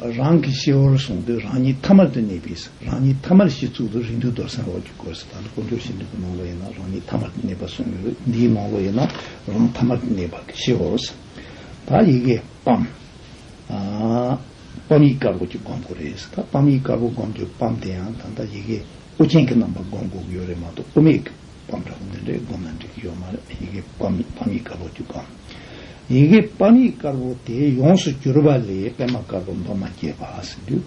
རང་གི་ཤེས་བོར་བཟུང་དུས་རང་ཉིད་ཐ་མར་དུ་གནས་པས་སོ། རང་ཉིད་ཐ་མར་ཤེས་ཚུལ་དུ་རིགས་འདུས་རྡོར་སེམས་འོག་གི་སྐོར་ཟད་ད་ལྟ་དཀོན་མཆོག་ཤིན་ཏུ་གི་མང་བོ་ཡིན་ན་རང་ཉིད་ཐ་མར་དུ་གནས་པ་གསུངས་ཡོད་རིགས་འདིའི་མང་བོ་ཡིན་ན་རང་ཐ་མར་དུ་གནས་པ་གི་ཤེས་བོར་ཟད་ད་ཡི་གེ་སྤམ། སྤམ་ཡིག་དཀར་པོ་གི་སྒོམ་དགོས་རེད་ཟད་ད་སྤམ་ཡིག་དཀར་པོ་སྒོམ་དུས་སྤམ་དེ་ཡང་ད་ལྟ་ཡི་གེ་དབུ་ཅན་གི་རྣམ་པ་སྒོམ་དགོས་གི་ཡོད་རེད་མ་གཏོགས་དབུ་མེད་གི་སྤམ་དྲག་མོ་རེ་བསྒོམ་ན་འགྲིག་གི་ཡོད་མ་རེད་ཡི་གེ་སྤམ་ཡིག་སྤམ་ཡིག་དཀར་པོ་དེ་བསྒོམ། ཡི་གེ་སྤམ་ཡིག་དཀར་པོ་དེ་ཡོངས་སུ་གྱུར་པ་ལས་པད་མ་དཀར་པོ་མདོག་མ་སྐྱེས་པ་ཟེར་དུས།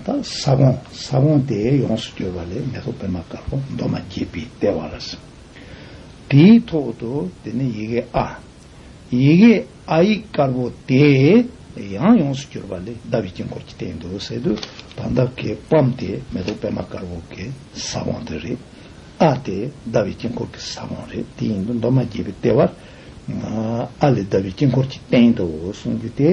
ད་ས་བོང་ས་བོང་དེ་ཡོངས་སུ་གྱུར་པ་ལས་མེ་ཏོག་པད་མ་དཀར་པོ་མདོག་མ་སྐྱེས་པའི་ལྟེ་བ་ལ་ཟེར། དེའི་ཐོག་ཏུ་དེ་ནི་ཡི་གེ་ཨ། ཡི་གེ་ཨ་ཡིག་དཀར་པོ་དེ་ཡང་ཡོངས་སུ་གྱུར་པ་ལས་ཟླ་བའི་དཀྱིལ་འཁོར་གྱི་སྟེང་དུ་ཟེར་དུས་ད་ཟླ་གའི་སྤམ་དེ་མེ་ཏོག་པད་མ་དཀར་པོ་གའི་ས་བོང་དེ་རེད། ཨ་དེ་ཟླ་བའི་དཀྱིལ་འཁོར་གྱི་ས་བོན་རེད་དེ་ཡིན་དུ་མདོ་མ་བརྒྱད་པའི་ལྟེ་བར་ཨ་ལས་ཟླ་བའི་དཀྱིལ་འཁོར་གྱི་སྟེང་དུ་གསུང་རྒྱུ་དེ་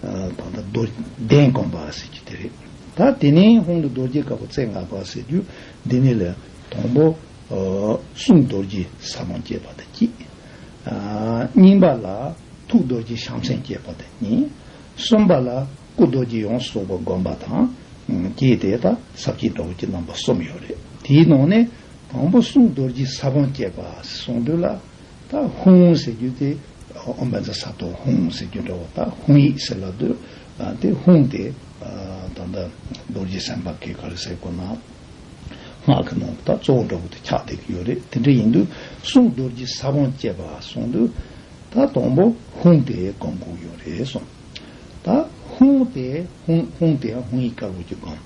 ད་ལྟ་རྡོ་གདན་དགོན་པ་ཟེར་རྒྱུ་དེ་རེད། ད་དེ་ནས་ཧོང་དུ་རྡོ་རྗེ་དཀར་པོ་རྩེ་ལྔ་པ་ཟེར་རྒྱུ་འདི་ནས་ལས་དང་པོ་གསུང་རྡོ་རྗེ་ས་བོན་བསྐྱེད་པ་དང་དཀྱིལ་སྙིང་པ་ལ་ཐུགས་རྡོ་རྗེ་བྱང་སེམས་བསྐྱེད་པ་དང་གཉིས་གསུམ་པ་ལ། སྐུ་རྡོ་རྗེ་ཡོངས་སུ་རྫོགས་པ་བསྒོམ་པ་དང། རྒྱས་འདེབས་དང་ཟབ་རྒྱས་འགྲོ་བའི་རྣམ་པ་གསུམ་ཡོད་རེད། དེའི་ནང་ནས་དང་པོ་གསུང་རྡོ་རྗེ་ས་བོན་བསྐྱེད་པ་གསུང་སྒྲོས་ལ། ད་ཧུང་ཟེར་རྒྱུ་དེ་ཨོམ་བན་ཛ་ས་ཏོ་ཧུང་ཟེར་རྒྱུ་འདྲ་བོ་ད་ཧུང་ཡིག་ཟེར་ལ་དུ་དེ་ཧུང་དེ་ད་ལྟ་རྡོ་རྗེ་སེམས་དཔའ་གི་གར་གསལ་སྐོར་ན་སྔགས་ཀྱི་ནང་དུ་ད་གཙོ་བོ་འདྲ་བོ་དེ་ཁྱག་འདེབས་ཀྱི་ཡོད་རེད་དེ་འདྲ་ཡིན་དུས་གསུང་རྡོ་རྗེ་ས་བོན་བསྐྱེད་པ་གསུང་སྒྲོས་ད་དང་པོ་ཧུང་དེ་བསྒོམ་དགོས་ཀྱི་ཡོད་རེད་གསུང། ད་ཧུང་དེ་ཧུང་ཧུང་དེ་ཧུང་ཡིག་དཀར་པོ་གྱི་སྒོམ།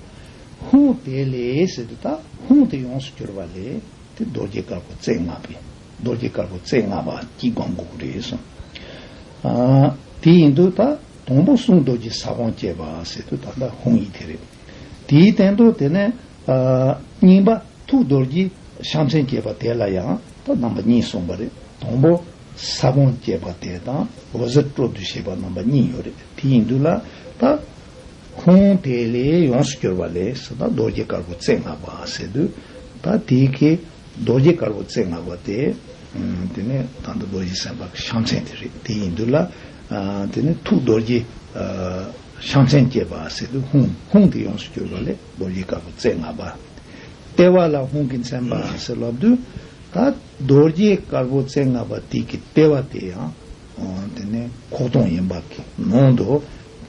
ཧུང་དེ་ལས་ཟེར་དུས་ད་ཧུང་དེ་ཡོངས་སུ་གྱུར་པ་ལས་དེ་རྡོ་རྗེ་དཀར་པོ་རྩེ་ལྔ་པའི་རྡོ་རྗེ་དཀར་པོ་རྩེ་ལྔ་པ་གྱི་སྒོམ་གོ་རེ་གསུང། དེ་ཡིན་དུ་ད་དང་པོ་གསུང་རྡོ་རྗེ་ས་གོང་བསྐྱེད་པ་ཟེར་དུས་ད་ད་ཧུང་ཡིག་དེ་རེད། དེའི་སྟེང་དུ་དེ་ནས་རྙིང་པ་ཐུགས་རྡོ་རྗེ་བྱམས་སེམས་བསྐྱེད་པ་དེ་ལ་ཡང་ད་རྣམ་པ་གཉིས་གསུངས་པ་རེད་དང་པོ། ས་བོན་བསྐྱེད་པ་དེ་དང་འོད་ཟེར་སྤྲོ་བསྡུ་བྱེད་པ་རྣམ་པ་གཉིས་ཡོད་རེད་དེ་ཡིན་དུས་ལ་ད། ཁུངས་དེ་ལས་ཡོངས་སུ་གྱུར་པ་ལས་སུ་ད་རྡོ་རྗེ་དཀར་པོ་རྩེ་ལྔ་པ་ཟེར་དུས་ད་དེ་གའི་རྡོ་རྗེ་དཀར་པོ་རྩེ་ལྔ་པ་དེ། དེ་ནི་ད་ལྟ་རྡོ་རྗེ་སེམས་དཔའ་གི་ཤ་མཚན་དེ་རེད་དེ་ཡིན་དུས་ལ། དེ་ནི་ཐུགས་རྡོ་རྗེ། ཤ་མཚན་བསྐྱེད་པ་ཟེར་དུས་ཧཱུྃ་ཧཱུྃ་དེ་ཡོངས་སུ་གྱུར་པ་ལས་རྡོ་རྗེ་དཀར་པོ་རྩེ་ལྔ་པ། ལྟེ་བ་ལ་ཧཱུྃ་གི་མཚན་པ་ཟེར་ལབ་དུས་ད། རྡོ་རྗེ་དཀར་པོ་རྩེ་ལྔ་པ་དིག་གི་ལྟེ་བ་དེ་ཡང་དེ་ནས་ཁོག་སྟོང་ཡན་འབབ་ཀྱི་ནང་དུ་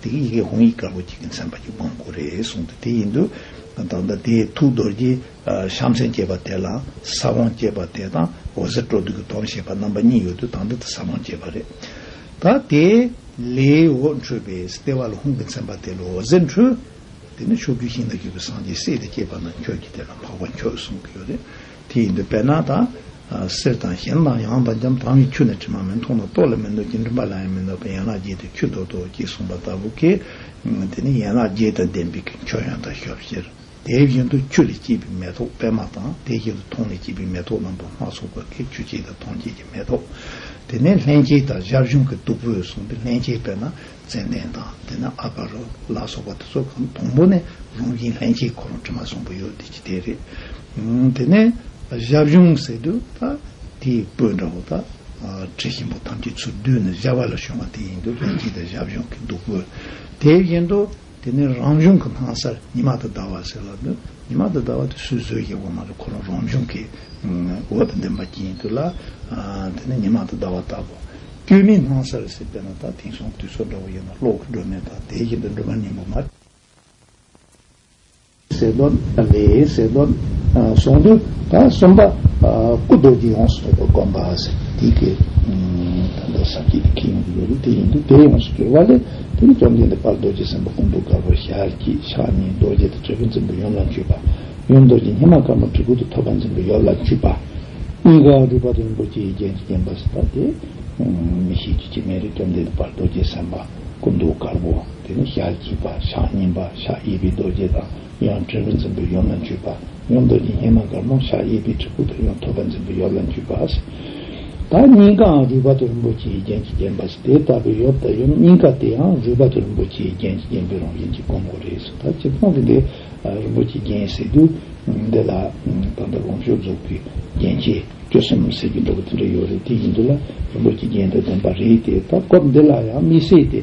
དེ་གི་ཡི་གེ་ཧོང་ཡིག་དཀར་པོ་གཅིག་གི་མཚན་པ་གྱི་དབང་བསྐུར་རེ་གསུངས་ཏེ་དེ་ཡིན་དུས་ད་ལྟ་དེའི་ཐུགས་རྡོ་རྗེ་བཤམ་མཚན་བཅས་པ་དེ་ལ་ས་བོན་བསྐྱེད་པ་དེ་དང་འོད་ཟེར་སྤྲོ་བསྡུ་གི་དོན་བྱེད་པ་རྣམ་པ་གཉིས་ཡོད་དུས་ད་ལྟ་དེ་ས་བོན་བསྐྱེད་པ་རེད། ད་དེ་ལས་འོད་འཕྲོས་པས་ལྟེ་བ་ལ་ཧོང་གི་མཚན་པ་དེ་ལ་འོད་ཟེར་འཕྲོས། དེ་ནས་ཕྱོགས་བཅུའི་ཞིང་དང་རྒྱུ་བའི་སངས་རྒྱས་སྲས་དེ་བསྐྱེད་པ་ན་ཁྱོད་ཀྱིས་དེ་ལ་འཕགས་པ་ཁྱོད་གསུང་གི་ཡོད་རེད། དེ་ཡིན་དུ་བས་ན་དང། གསེར་དང་གཞན་དང་ཡང་དང་འཇམ་དབྱངས་ཀྱི་ཁྱུ་ནི་དྲི་མ་མི་མཐོང་ན་རྟོག་ལ་མི་འདོད་ཅིང་འདྲིམ་པ་ལ་ཡང་མི་འདོད་པའི་ཡན་ལག་བརྒྱད་དུ་ཁྱུད་དོ་དོ་ཅེས་གསུངས་པ་ལྟ་བུ་སྐད། དེ་ནི་ཡན་ལག་བརྒྱད་དང་ལྡན་པའི་ཁྱུ་མཆོག་ཡང་དག་ཞབས་བཞིར། དེ་བཞིན་དུ་ཁྱུ་ལས་སྐྱེས་པའི་མེ་ཏོག་པད་མ་དང་དེ་བཞིན་དུ་མཐོང་ལས་སྐྱེས་པའི་མེ་ཏོག་ལམ་པོ་སྣ་ཚོགས་པ་ཁའི་ཁྱུ་སྐྱེས་དང་མཐོང་སྐྱེས་ཀྱི་མེ་ཏོག། དེ་ནས་ལྷན་སྐྱེས་དང་ཞབས་གཞུང་གི་བདུག་སྤོས་བཟུང་སྟེ་ལྷན་སྐྱེས་པས་ན་ཙན་དན་དང་དེ་ན་ཨ་བྷ་རུ་ལ་སོགས་པ་དེ་ཚོ་གང་དང་པོ་ནས་རང་བཞིན་ལྷན་སྐྱེས་ཁོ་རང་དྲི་མ་བཟང་པོ་ཡོད་བསྡད་ཀྱི་དེ་རེད། དེ་ནས་བཞའ་བྱུང་ཟེར་དུས་ད་དེའི་སྤོས་འདྲ་བོ་ད་དྲི་ཞིམ་པོ་ཐམས་ཅད་ཚུར་བསྡུས་ནས་བཞའ་བ་ལ་བྱུང་བ་དེ་ཡིན་དུ་ལྷན་སྐྱེས་དང་བཞའ་བྱུང་གི་བདུག་སྤོས་དེ་བཞིན་དུ་དེ་ནི་རང་བྱུང་གི་སྣང་སར་ཉི་མ་དང་ཟླ་བ་ཟེར་ལ། ཉི་མ་དང་ཟླ་བ་དེ་སུས་བཟོས་ཀྱི་འོག་མ་དེ་ཁོ་རང་རང་བྱུང་གི་འོད་དང་ལྡན་པ་སྐྱེ་ཡིན་དུས་ལ། དེ་ནི་ཉི་མ་དང་ཟླ་བ་ལྟ་བུ། སྐྱོན་མེད་སྣང་སར་ཟེར་བས་ན་ད་དེང་སང་དུས་ཚོད་འདྲ་བོ་ཡིན་ན་གློག་གི་སྒྲོན་མེ་དང་དེའི་རྐྱེན་པས་འགྲོན་མ་སྙིང་པོ་མ། ཟེར་བ་ལས་ཟེར་བ་གསུངས་དུས་ད་གསུམ་པ་སྐུ་རྡོ་རྗེ་ཡོངས་སུ་རྫོགས་པ་བསྒོམ་པ་ཟེར་བ་འདི་སྐད། ད་ལྟ་ཟབ་རྒྱས་ཀྱི་ཁྱད་ཡོངས་སུ་ཡོད་པས་དེ་ཡིན་དུས་དེ་ཡོངས་སུ་གྱུར་པ་ལས་དེ་ནི་བཅོམ་ལྡན་འདས་དཔལ་རྡོ་རྗེ་སེམས་དཔའ་ཀུན་ཏུ་དགའ་བོར་ཤར་གྱི་ཕྱག་གཉིས་རྡོ་རྗེ་དང་ཆོས་ཀུན་རྩིང་པོ་ཡུམ་ལ་འཁྱུད་པ། ཡུམ་རྡོ་རྗེ་སྙེམས་མ་དཀར་མོ་གྲི་གུག་ཏུ་ཐོགས་པ་འཛིན་པའི་ཡོབ་ལ་འཁྱུད་པ། གཉིས་ཀ་རུས་པ་རིན་པོ་ཆེའི་རྒྱན་གྱིས་བརྒྱན་པ་ཟེར་བ་དེ། མི་ཤེས་ཀྱི་སྐྱེ་མེད་རིགས་བཅོམ་ལྡན་འདས་དཔལ་རྡོ་རྗེ་སེམས་དཔའ་ཀུན་ཏུ་དགའ་བོ། དེ་ནས་ཞག་གཅིག་པ་ཞག་གཉིས་པ་ཞག་གཡས་པའི་རྡོ་རྗེ་དང་ཡང་དྲིལ་བུ་འཛིན་པའི་ཡོ་ལ་འཇུས་པ་ཡང་རྡོ་རྗེ་སྙེ་མ་དཀར་མོ་ཞག་གཡས་པའི་གྲི་གུག་དང་ཡང་ཐོད་པ་འཛིན་པའི་ཡོ་ལ་འཇུས་པ། དང་གཉིས་ཀའང་རུས་པ་དང་རིན་པོ་ཆེའི་རྒྱན་གྱིས་བརྒྱན་པ། དེ་ལྟ་བུའི་ཡོ་དང་ཡུམ་གཉིས་ཀ་དེའང་རུས་པ་དང་རིན་པོ་ཆེའི་རྒྱན་གྱིས་བརྒྱན་པའི་རང་བཞིན་གྱི་གོང་མགོ་རེས་སུ་དར་གྱི་ཚོགས་ཀྱི་འདི་རིན་པོ་ཆེའི་རྒྱན་ཟེར་དུས། འདི་ལ་ད་ལྟ་གོང་ཞུ་རྫོགས་པའི་རྒྱན་ཆས་བཅུ་གསུམ་ཟེར་གྱི་འདུག་གོ་དེ་འདྲའི་ཡོ་རེ་དེ་ཡིན་དུས་ལ་རིན་པོ་ཆེའི་རྒྱན་དུ་བདེན་པ་རེད་དེ་ད་སྐབས་འདི་ལ་ཡང་མི་སྲིད་དེ།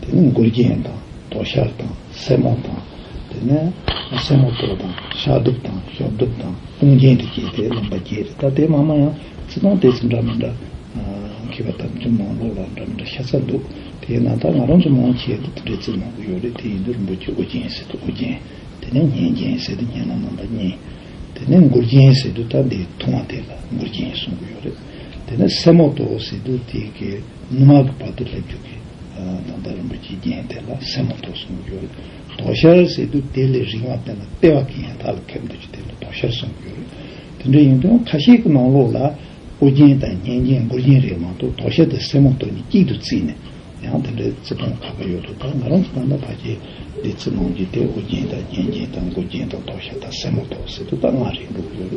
དེ་ནས་མགུལ་རྒྱན་དང་དོ་ཤལ་དང་སེན་མོ་དང། དེ་ནས་སེན་མོ་དོ་དང་ཤ་གདུབ་དང་ཤོག་གདུབ་དང་དཔུང་རྒྱན་དེ་བསྐྱེད་དེ་ལོན་པ་བརྒྱད་རེད་ད་དེ་མ་མ་ཡང་ཚིག་རྐང་དེ་ཚོ་འདྲ་མི་འདྲ་གི་བ་དམ་ཅུང་མང་ལོག་ལ་འདྲ་མི་འདྲ་ཤ་ཚ་འདུག་དེ་ཡིན་ན་ད་ང་རང་ཚོ་མང་ཆེ་འདི་ལྟར་འདྲེ་ཚིག་མང་པོ་ཡོད་རེད་དེ་ཡིན་དུ་རིན་པོ་ཆེ་དབུ་རྒྱན་ཟེར་དུ་དབུ་རྒྱན་དེ་ནས་གཉན་རྒྱན་ཟེར་དུ་གཉན་ལ་མངོན་པ་གཉན་དེ་ནས་མགུལ་རྒྱན་ཟེར་དུ་ད་འདི་ཐུང་བ་དེ་ལ་མགུལ་རྒྱན་གསུང་གི་ཡོད་རེད་དེ་ནས་སེན་མོ་དོ་ཟེར་དུ་དེ་གི། སྔོན་མ་གི་བར་དུ་སླེབས་འཇུག་གི་ཐང་ཐང་རིན་པོ་ཆེའི་རྒྱན་དེ་ལ་སེན་མོ་ཐོགས་གསུངས་ཡོད། དོ་ཤལ་ཟེར་དུས་དེ་ལས་རིང་བ་དེ་ལ་ལྟེ་བ་གི་ཡང་དག་ལ་ཁེབས་འདུག་ཅེས་དེ་ལ་དོ་ཤལ་གསུངས་ཡོད། དེ་འདྲ་ཡིན་དུས་ཁ་ཤས་ཀྱི་ནང་ལོགས་ལ་སྤུ་རྒྱན་དང་སྙན་རྒྱན་མགུར་རྒྱན་རེ་མང་འདུག་དོ་ཤལ་དང་སེན་མོ་དོ་གཉིས་གཅིག་ཏུ་བརྩིས་ནས་ཡང་དེ་འདྲའི་བརྩི་མཐོང་ཁ་པོ་ཡོད་འདུག་ད་ང་རང་གི་ལྟ་ན་ཕ་རྒྱལ་འདི་བརྩི་མཐོང་གི་དེ་སྤུ་རྒྱན་དང་སྙན་རྒྱན་དང་མགུར་རྒྱན་དང་དོ་ཤལ་དང་སེན་མོ་ཐོགས་ཟེར་དུས་ད་སྔ་རེད་འདུག་ཡོད།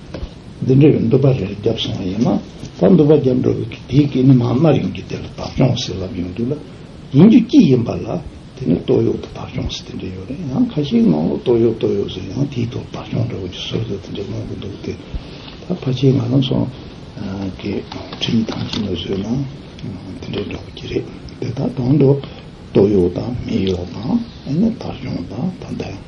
འདི་འདྲའི་འདུ་བ་རེ་རེ་བརྒྱབ་སོང་བ་ཡིན་ན་ད་འདུ་བ་བརྒྱབ་འགྲོ་བའི་དེའི་སྐད་ནི་མང་སྣར་ཡོང་རྒྱུ་དེ་ལ་བདག་སྐྱོང་བ་ཟེར་ལབ་ཡོང་དུས་ལ་ཡིན་རྒྱུ་སྐྱིད་ཡིན་པ་ལ་དེ་ནི་སྟོད་གཡོག་དང་བདག་སྐྱོང་ཟེར་དེ་འདྲ་ཡོད་རེད་ཡང་ཁ་ཤས་ངང་ལོ་སྟོད་གཡོག་སྟོད་གཡོག་ཟེར་ཡང་དེའི་ཐོག་བདག་སྐྱོང་འདྲ་བོ་ཀྱི་ཟུར་ཟུར་དེ་འདྲ་གནང་གི་འདུག་དེ་ད་ཕ་ཆེ་ང་རང་སོ་ཀྱི་ཁྲི་ཡི་ཐང་ཆེན་ལ་བཟོས་ན་དེ་འདྲ་འདྲ་བོ་ཀྱི་རེད་དེ་ད་གང་དུ་སྟོད་གཡོག་དང་མི་གཡོག་དང་ཨེ་ནས་བདག་སྐྱོང་དང་ད་འདྲ་ཡང།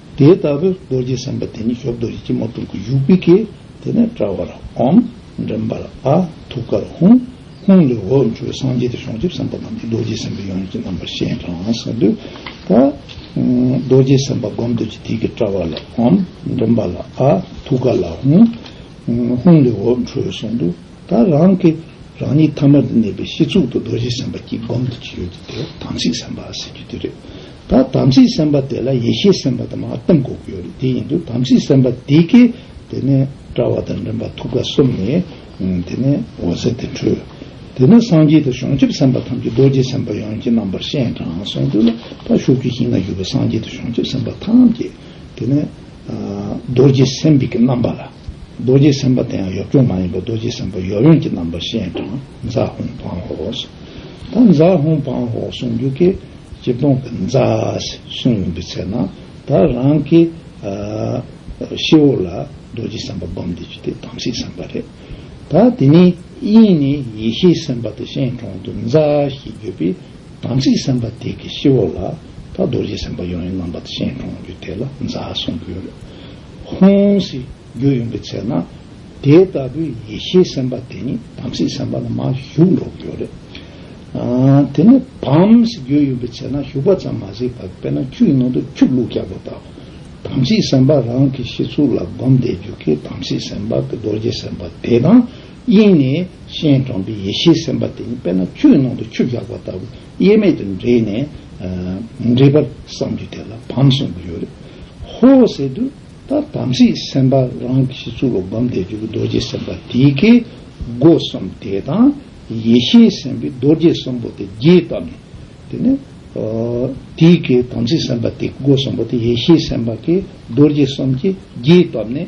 དེ་ལྟ་བུའི་རྡོ་རྗེ་སེམས་དཔའ་དེ་ཉིད་གཞོབ་རྡོ་རྗེ་སྐྱིལ་མོ་ཀྲུང་གི་བཞུགས་པའི་གེགས་དེ་ནས་དཔྲལ་བར་ཨོམ། མགྲིན་པར་ཨ། ཐུགས་ཀར་ཧཱུྃ། ཧཱུྃ་ལས་འོད་འཕྲོས་པས་སངས་རྒྱས་ཏེ་བྱང་ཆུབ་སེམས་དཔའ་རྣམས་ཀྱི་རྡོ་རྗེ་སེམས་དཔའི་ཡོན་གྱི་རྣམ་པར་ཤེས་ཀྱང་གང་ཟག་འདོད་ལ། རྡོ་རྗེ་སེམས་དཔའ་བསྒོམ་དུ་བགྱི་གེགས་ཀྱི་དཔྲལ་བར་ཨོམ། མགྲིན་པར་ཨ། ཐུགས་ཀར་ཧཱུྃ། ཧཱུྃ་ལས་འོད་འཕྲོས་པས་སངས་རྒྱས་ད་རང་གི་རང་ཉིད་ཐ་མལ་དུ་གནས་པའི་ཕྱི་ཚུལ་དུ་རྡོ་རྗེ་སེམས་དཔའ་སྐྱིལ་བསྒོམ་དུ་བགྱི་ཡོད་དེ་དེ་དང་ཚིག་སེམས་དཔའ་སེམས་ཀྱི་བདུད་རེག་ད་དམ་སྲི་སེམས་དཔའ་དེ་ལ་ཡེ་ཤེས་སེམས་དཔའ་དེ་མ་གཏོང་དགོས་ཀྱི་ཡོད་རེད་དེ་ཡིན་དུས་དམ་སྲི་སེམས་དཔའ་དེ་ཀས་དེ་ནས་དཔྲལ་བ་དང་མགྲིན་པ་ཐུགས་ཀ་གསུམ་ནས་དེ་ནས་འོད་ཟེར་དེ་འཕྲོས། དེ་ནས་སངས་རྒྱས་དེ་བྱང་ཆུབ་སེམས་དཔའ་ཐམས་ཅད་རྡོ་རྗེ་སེམས་དཔའ་ཡོངས་ཀྱི་རྣམ་པར་ཤེས་དྲང་གསུངས་དུས་ལ་ཕ་ཤུགས་ཀྱི་ཞིང་ན་རྒྱུ་བའི་སངས་རྒྱས་དེ་བྱང་ཆུབ་སེམས་དཔའ་ཐམས་ཅད་དེ་ནས་རྡོ་རྗེ་སེམས་དཔའི་རྣམ་པ་ལ། རྡོ་རྗེ་སེམས་དཔའ་དེའང་ཡོབ་ཅོག་མ་ཡིན་པར་རྡོ་རྗེ་སེམས་དཔའ་ཡོབ་ཡོན་གྱི་རྣམ་པར་ཤེས་ཀྱང་རྫ་ཧུང་བང་ཧོ། ད་རྫ་ཧུང་བང་ཧོ་གསུངས་རྒྱུ་གི་སྤྱིར་བཏང་གི་རྫ་གསུངས་ཡིན་པའི་ཚེ་ན་ད་རང་གི་ཤི་བོ་ལ་རྡོ་རྗེ་སེམས་དཔའ་སྒོམ་བསྡད་རྒྱུ་དེ་དམ་སྲི་སེམས་དཔའ་རེད། ད་དེ་ནས་དབྱིངས་ནས་ཡེ་ཤེས་སེམས་དཔའ་དེ་ཤེས་གྲོང་དུ་རྫ་ཞེས་བརྗོད་པས་དམ་སྲི་སེམས་དཔའ་དེ་གི་ཤི་བོ་ལ་ད་རྡོ་རྗེ་སེམས་དཔའ་ཡོན་གྱི་རྣམ་པ་དེ་ཤེས་གྲོང་རྒྱུ་དེ་ལ་རྫ་གསུངས་རྒྱུ། ཧཱུྃ། རྒྱུ་ཡིན་པའི་ཚེ་ན། དེ་ལྟ་བུའི་ཡེ་ཤེས་སེམས་དཔའ་དེ་ནི་དམ་སྲི་སེམས་དཔའ་ལ་མ་ཞུགས་འགྲོ་གི་ཡོད་རེད། དེ་ནི་བམ། རྒྱུ་ཡིན་པའི་ཚེ་ན་ཞུགས་པ་ཙམ་མ་ཟད་པར་དཔེར་ན་ཆུ་ཡི་ནང་དུ་ཆུ་བླུགས་རྒྱག་པ་ལྟ་བུ། དམ་སྲི་སེམས་དཔའ་རང་གི་ཤི་ཚུལ་ལ་བསྒོམ་བཟླས་བརྒྱུད་ཀྱི་དམ་སྲི་སེམས་དཔའ་གྱི་རྡོ་རྗེ་སེམས་དཔའ་དེ་དང་དབྱིངས་ནས་སྤྱན་དྲངས་པའི་ཡེ་ཤེས་སེམས་དཔའ་དེ་ནི་དཔེར་ན་ཆུ་ཡི་ནང་དུ་ཆུ་རྒྱག་པ་ལྟ་བུ། དབྱེར་མེད་དུ་འདྲེས་ནས། མི་འདྲེས་པར་བསམ་གྱིས་དེ་ལ་བམ་གསུངས་པར་ཡོད། ཧོ། ཟེར་དུས་ད་དམ་སྲིའི་སེམས་དཔའ་རང་གི་ཞི་ཚུལ་ལོ་བམ་འདས་རྒྱུ་བའི་རྡོ་རྗེ་སེམས་དཔའ་དེའི་ཁའི་སྒོ་གསུམ་དེ་དང་ཡེ་ཤེས་སེམས་དཔའི་རྡོ་རྗེ་གསུམ་པོ་དེ་རྒྱས་བཏབ་ནས། དེ་ནས། དེའི་ཁའི་དམ་སྲིའི་སེམས་དཔའ་དེ་སྒོ་གསུམ་པོ་དེ་ཡེ་ཤེས་སེམས་དཔའ་ཁའི་རྡོ་རྗེ་གསུམ་གྱིས་རྒྱས་བཏབ་ནས།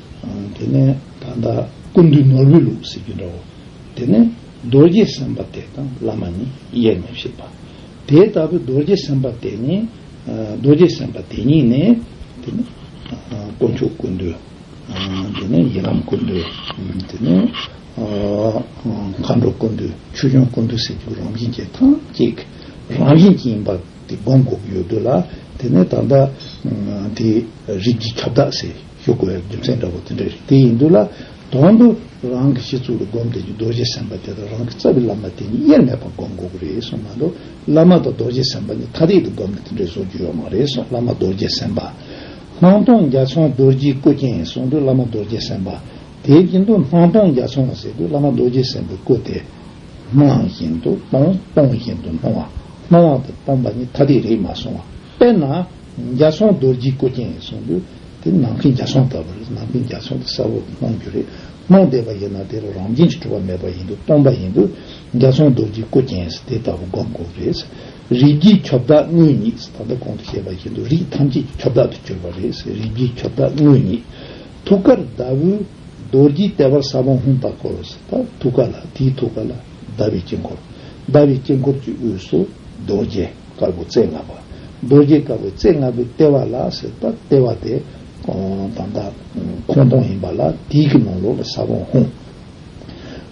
དེ་ནས་ད་ལྟ་ཀུན་འདུས་ནོར་བུའི་ལུགས་ཟེར་གྱི་འདྲ་བོ། དེ་ནས་རྡོ་རྗེ་སེམས་དཔའ་དེ་དང་བླ་མ་ནི་དབྱེར་མི་ཕྱེད་པ། དེ་ལྟ་བུའི་རྡོ་རྗེ་སེམས་དཔའ་དེ་ནི་རྡོ་རྗེ་སེམས་དཔའ་དེ་ཉིད་ནི། དེ་ནས་དཀོན་མཆོག་ཀུན་འདུས། དེ་ནས་ཡི་དམ་ཀུན་འདུས། དེ་ནས་མཁའ་འགྲོ་ཀུན་འདུས་ཆོས་སྐྱོང་ཀུན་འདུས་ཟེར་གྱི་རང་བཞིན་གྱིས་ཐམས་ཅད་ཀྱི་རང་བཞིན་གྱི་ཡིན་པ་དེ་སྒོམ་དགོས་ཀྱི་ཡོད་དོ་ལ། དེ་ནས་ད་ལྟ་དེའི་རིགས་ཀྱི་ཁྱབ་བདག་ཟེར། ཞུགས་དགོས་རྒྱུ་མཚན་འདྲ་བོ་དེ་འདྲ་རེད་དེ་ཡིན་དུས་ལ་དོན་དུ་རང་གི་ཤི་ཚུལ་ལ་སྒོམ་དེ་རྡོ་རྗེ་སེམས་དཔའ་དེ་དང་རང་གི་རྩ་བའི་བླ་མ་དེ་གཉིས་དབྱེར་མེད་པར་སྒོམ་དགོས་ཀྱི་རེད་གསུངས་མ་གཏོགས་བླ་མ་དང་རྡོ་རྗེ་སེམས་དཔའ་གཉིས་ཐ་དད་དུ་སྒོམ་ནས་དེ་འདྲའི་བཟོ་རྒྱུ་ཡོད་མ་རེད་གསུངས་བླ་མ་རྡོ་རྗེ་སེམས་དཔའ། སྣང་སྟོང་རྒྱ་མཚོའི་རྡོ་རྗེའི་སྐུ་རྐྱེན་གསུངས་དུས་བླ་མ་རྡོ་རྗེ་སེམས་དཔའ། དེ་བཞིན་དུ་སྣང་སྟོང་རྒྱ་མཚོ་ལ་ཟེར་དུས་བླ་མ་རྡོ་རྗེ་སེམས་དཔའི་སྐུ་དེ། སྣང་བཞིན་དུ་སྟོང་སྟོང་བཞིན་དུ་སྣང་བ་སྣང་བ་དང་སྟོང་པ་གཉིས་ཐ་དད་རེད་མ་གསུངས་བ། དཔེར་ན། རྒྱ་སྲོང་རྡོ་རྗེའི་སྐུ་རྐྱེན་ཡིན་གསུངས་དུས་དེ་ནང་ཁུལ་རྒྱ་སྲོང་ལྟ་བུ་རེད་ནང་ཁུལ་རྒྱ་སྲོང་དེ་གསལ་བོ་གནང་རྒྱུ་རེད་གནང་བསྡད་པ་ཡིན་ན་དེ་ལ་རང་བྱན་གྱི་གྲུབ་པ་མེད་པ་ཡིན་དུས་སྟོང་པ་ཡིན་དུས་རྒྱ་སྲོང་རྡོ་རྗེའི་སྐུ་རྐྱེན་ཟེར་དེ་ལྟ་བུ་སྒོམ་དགོས་རེད། རིགས་བརྒྱའི་ཁྱབ་བདག་དངོས་ཉིད་ད་ལྟ་གོང་དུ་བཤད་པ་བཞིན་དུ་རིགས་ཐམས་ཅད་ཀྱི་ཁྱབ་བདག་ཏུ་གྱུར་པ་རེད་ཟེར་རིགས་བརྒྱའི་ཁྱབ་བདག་དངོས་ཉིད། ཐུགས་ཀར་ཟླ་བུའི་རྡོ་རྗེའི་ལྟེ་བར་ས་བོན་ཧཱུྃ་དང་འཁོར་ལོ་ཟེར་ད་ཐུགས་ཀ་ལ་དེའི་ཐུགས་ཀ་ལ་ཟླ་བའི་དཀྱིལ་འཁོར་ཟླ་བའི་དཀྱིལ་འཁོར་གྱི་དབུས་སུ་རྡོ་རྗེ། དཀར་པོ་རྩེ་ལྔ་པ། རྡོ་རྗེ་དཀར་པོའི་རྩེ་ལྔ་པོའི་ལྟེ་བ་ལ་ཟེར་པ་ལྟེ་བ་དེ་དང་དང་ཁོང་སྟོང་ཡིན་པ་ལ་དིག་གི་ནང་ལོགས་ལ་ས་བོན་ཧཱུྃ།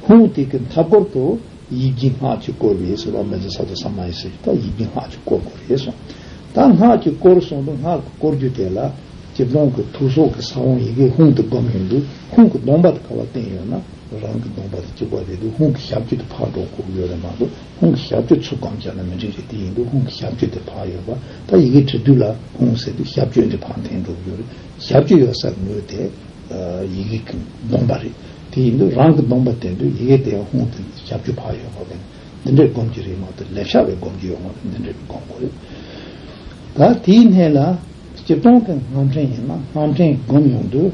ཧཱུྃ་དེ་གི་མཐའ་སྐོར་དུ་ཡིག་བརྒྱའི་སྔགས་ཀྱིས་བསྐོར་བས་ཟེར་བ་མེ་ཛ་ས་དོ་ས་མ་ཡེ་ཟེར་བས་ཡིག་བརྒྱའི་སྔགས་ཀྱིས་བསྐོར་བར་རེ་ཟུང། ད་སྔགས་ཀྱིས་བསྐོར་གསུངས་འདུག་སྔགས་ཀྱི་བསྐོར་རྒྱུ་དེ་ལ་སྤྱིར་སྟོང་གི་ཐུགས་སྲོག་གི་ས་བོན་ཡི་གེ་ཧཱུྃ་དུ་བསྒོམ་ཡོད་འདུག་ཧཱུྃ་གི་སྟོང་པ་དེ་ག་བ་བསྟན་ཡོད་ན་རང་གི་སྟོང་པ་དེ་གཅིག་པ་རེད་འདུག་ཧཱུྃ་གི་ཞབས་ཀྱི་དུ་ཕག་གྲོག་ཁུག་ཡོད་རེད་མ་གཏོགས། ཧོང་གི་ཞབས་བརྗོད་ཚུགས་སྒམ་བྱས་ན་མི་འགྲིག་རེད་དེ་ཡིན་དུས་ཧོང་གི་ཞབས་བརྗོད་དེ་བག་ཡོད་པ་ད་ཡི་གེ་བྲི་དུས་ལ་ཧོང་ཟེར་དུས་ཞབས་བརྗོད་འདི་བག་འཐེན་འགྲོ་གི་ཡོད་རེད་ཞབས་བརྗོད་ཡོད་སར་ངོས་དེ་ཡི་གེ་གི་སྡོམ་པ་རེད་དེ་ཡིན་དུས་རང་གི་སྡོམ་པ་དེ་དུས་ཡི་གེ་དེ་ཡང་ཧོང་དེ་ཞབས་བརྗོད་བག་ཡོད་པ་བས་ན་འདི་འདྲས་སྒོམ་གྱི་རེད་མ་གཏོགས་ལེབ་ཤ་བས་སྒོམ་གྱི་ཡོད་ངོ་ན་འདི་འདྲས་མི་སྒོམ་དགོས་རེད་ག་དེའི་སྣེ་ལ་སྤྱིར་བཏང་གི་རྔམ་ཕྲེང་ཡིན་ན་རྔམ་ཕྲེང་སྒོམ་ཡོང་དུས།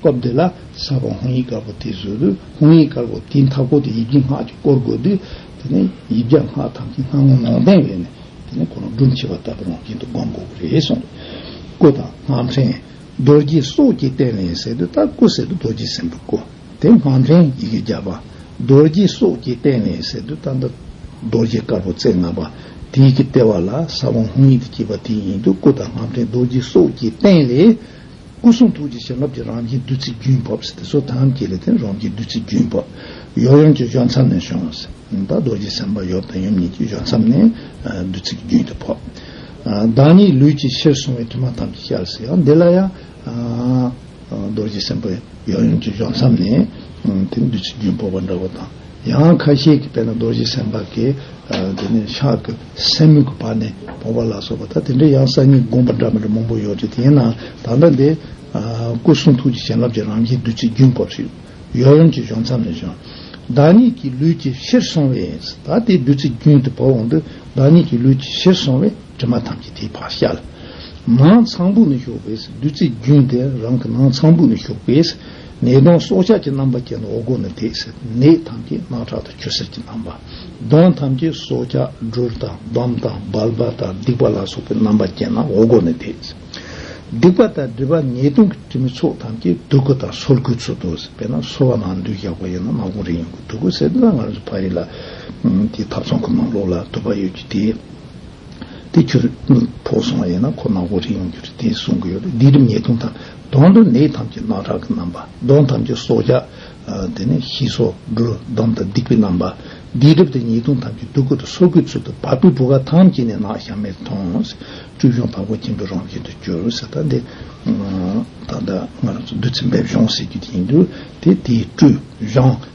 སྐབས་འདི་ལ་ས་བོན་ཧོང་ཡིག་དཀར་པོ་དེ་བཟོས་དུས་ཧོང་ཡིག་དཀར་པོ་དེའི་མཐའ་སྐོར་དུ་ཡིག་རྒྱུ་སྔགས་ཀྱིས་བསྐོར་དགོས་དུས་དེ་ནི་ཡིག་བརྒྱ་སྔགས་ཐམས་ཅད་སྔགས་ངོ་ནོངས་ལྡན་བས་ན་དེ་ནི་གོ་རང་སྒྲུབ་བྱེད་པ་ལྟ་བུར་རང་བཞིན་དུ་བསྒོམ་དགོས་པ་རེད་གསུངས། སྐུ་དང་སྔགས་འཕྲེང། རྡོ་རྗེ་སོགས་ཀྱི་རྟེན་ལས་ཟེར་དུས་ལྟར་སྐུ་ཟེར་དུས་རྡོ་རྗེ་སེམས་དཔའ་སྐུ་དེ་སྔགས་འཕྲེང་ཡི་གེ་བརྒྱ་པ། རྡོ་རྗེ་སོགས་ཀྱི་རྟེན་ལས་ཟེར་དུས་ལྟར་མདའ་རྡོ་རྗེ་དཀར་པོ་རྩེ་ལྔ་པ་དེའི་གི་ལྟེ་བ་ལ་ས་བོན་ཧོང་ཡིག་དུ་བསྐྱེད་པ་དེ་ཡིན་དུས་སྐུ་དང་སྔགས་འཕྲེང་རྡོ་རྗེ་སོགས་ཀྱི་རྟེན་ལས། སྐུ་གསུང་ཐུགས་ཀྱི་བྱིན་རླབས་ཀྱི་རང་བཞིན་བདུད་རྩིའི་རྒྱུན་བབས་ཟེར་ཏེ་སོ་ཐམས་ཀྱི་ལས་དེ་རང་གི་བདུད་རྩིའི་རྒྱུན་བབས། ཡོར་ཡོམ་གྱི་གཞོན་མཚམས་ནས་བྱུང་བ་ཟེར། རྡོ་རྗེ་སེམས་དཔའ་ཡོར་དང་ཡོམ་གཉིས་ཀྱི་གཞོན་མཚམས་ནས་བདུད་རྩི་གི་རྒྱུན་དེ་བབས། བདག་ཉིད་ལུས་ཀྱི་ཕྱིར་སོང་བའི་དུས་མ་ཐམས་ཅད་ཤར་ཟེར་ཡང་འདི་ལ་ཡང། རྡོ་རྗེ་སེམས་དཔའ་ཡོར་ཡོམ་གྱི་གཞོན་མཚམས་ནས་དེ་བདུད་རྩིའི་རྒྱུན་བབས་པ་འདྲ་བོ་དང། ཡང་ཁ་ཤས་ཀྱིས་དཔལ་ན་རྡོ་རྗེ་སེམས་དཔའ་གིས་དེ་ནས་ཕྱག་གི་སེན་མོ་གི་བར་ནས་བོང་བ་ལ་སོགས་པ་དང་དེ་འདྲའི་ཡང་གསང་སྙིང་དགོངས་པ་འདྲ་མི་འདྲ་མང་པོ་ཡོད་དེ་དེ་ཡིན་ནའང་ད་ལྟ་འདི་སྐུ་གསུང་ཐུགས་ཀྱི་བྱིན་རླབས་ཀྱི་རང་བཞིན་བདུད་རྩིའི་རྒྱུན་བབས་ཤིག་ཡོད་ཡུམ་གྱི་གཞུང་མཚམས་ནས་བྱུང། བདག་ཉིད་ཀྱི་ལུས་ཀྱི་ཕྱིར་སོང་བས་ད་དེ་བདུད་རྩིའི་རྒྱུན་དུ་བབས་འོང་དུས་བདག་ཉིད་ཀྱི་ལུས་ཀྱི་ཕྱིར་སོང་བས་དྲི་མ་ཐམས་ཅད་དེའི་བར་བཤལ། ནང་ཚངས་བུག་ནས་ཞུགས་པས་བདུད་རྩིའི་རྒྱུན་དེ་རང་གི་ནང་ཚངས་བུག་ནས་ཞུགས་པས། ནད་གདོན་སྲོག་ཆགས་ཀྱི་རྣམ་པ་ཅན་འོག་སྒོ་ནས་འདེགས་ཟེར་ནད་ཐམས་ཅད་རྣག་ཁྲག་ཏུ་བྱོ་ཟེར་གྱི་རྣམ་པ། གདོན་ཐམས་ཅད་སྲོག་ཆགས་སྦྲུལ་དང་འབམ་དང་སྦལ་པ་དང་སྡིག་པ་ལ་སོགས་པའི་རྣམ་པ་ཅན་རྣམས་འོག་སྒོ་ནས་འདེགས་ཟེར། སྡིག་པ་དང་སྦྲུལ་པ་ནད་གདོན་གྱི་གྲིབ་མའི་ཚོགས་ཐམས་ཅད་དུག་ཁུ་དང་སོར་ཁུའི་ཚུལ་དུ་ཟེར་བས་ན་སོ་བ་ནང་འདུས་ཡག་པོ་ཡིན་ན་ནག་གོང་རིང་ཡོང་གི་དུག་ཁུ་ཟེར་ན་ང་རང་ཚོ་ཕ་རི་ལ་དེའི་ཐབ་ཚང་གི་ནང་ལོགས་ལ་དུག་པ་ཡོད་ཀྱི་དེའི་དེ་ཁྱོད་ཕོ་སོང་བ་ཡིན་ན་ཁོ་ནག་པོ་རེད་ཡོང་རྒྱུ་རེད་དེ་གསུང་གི་ཡོད་རེད་འདི་རིམས་ནད་དུང་དང་དོང་དུ་ནད་ཐམས་ཅད་རྣག་ཁྲག་གི་རྣམ་པ་གདོན་ཐམས་ཅད་སྲོག་ཆགས་དེ་ནས་ཤི་སྲོག་སྒྲོལ་འདོམ་དང་སྡིག་པའི་རྣམ་པ་འདི་གྲིབ་དང་ཉེས་དུང་ཐམས་ཅད་སྡུག་གུ་དང་སོ་གུའི་ཚུལ་དུ་བ་སྤུའི་བུ་ག་ཐམས་ཅད་ནས་རྣག་ཞག་མེད་དུ་ཐོང་བཅུད་གཞོང་དྭངས་པོ་སྐྱེན་པའི་རོང་ཅན་དུ་གྱུར་ཟེར་ད་དེ་ད་ལྟ་ང་རང་ཚོ་བདུད་རྩི་འབེབས་གཞོང་ཟེར་རྒྱུ་དེ་ཡིན་དུས་དེ་དེའི་བཀྲུ་གཞོང།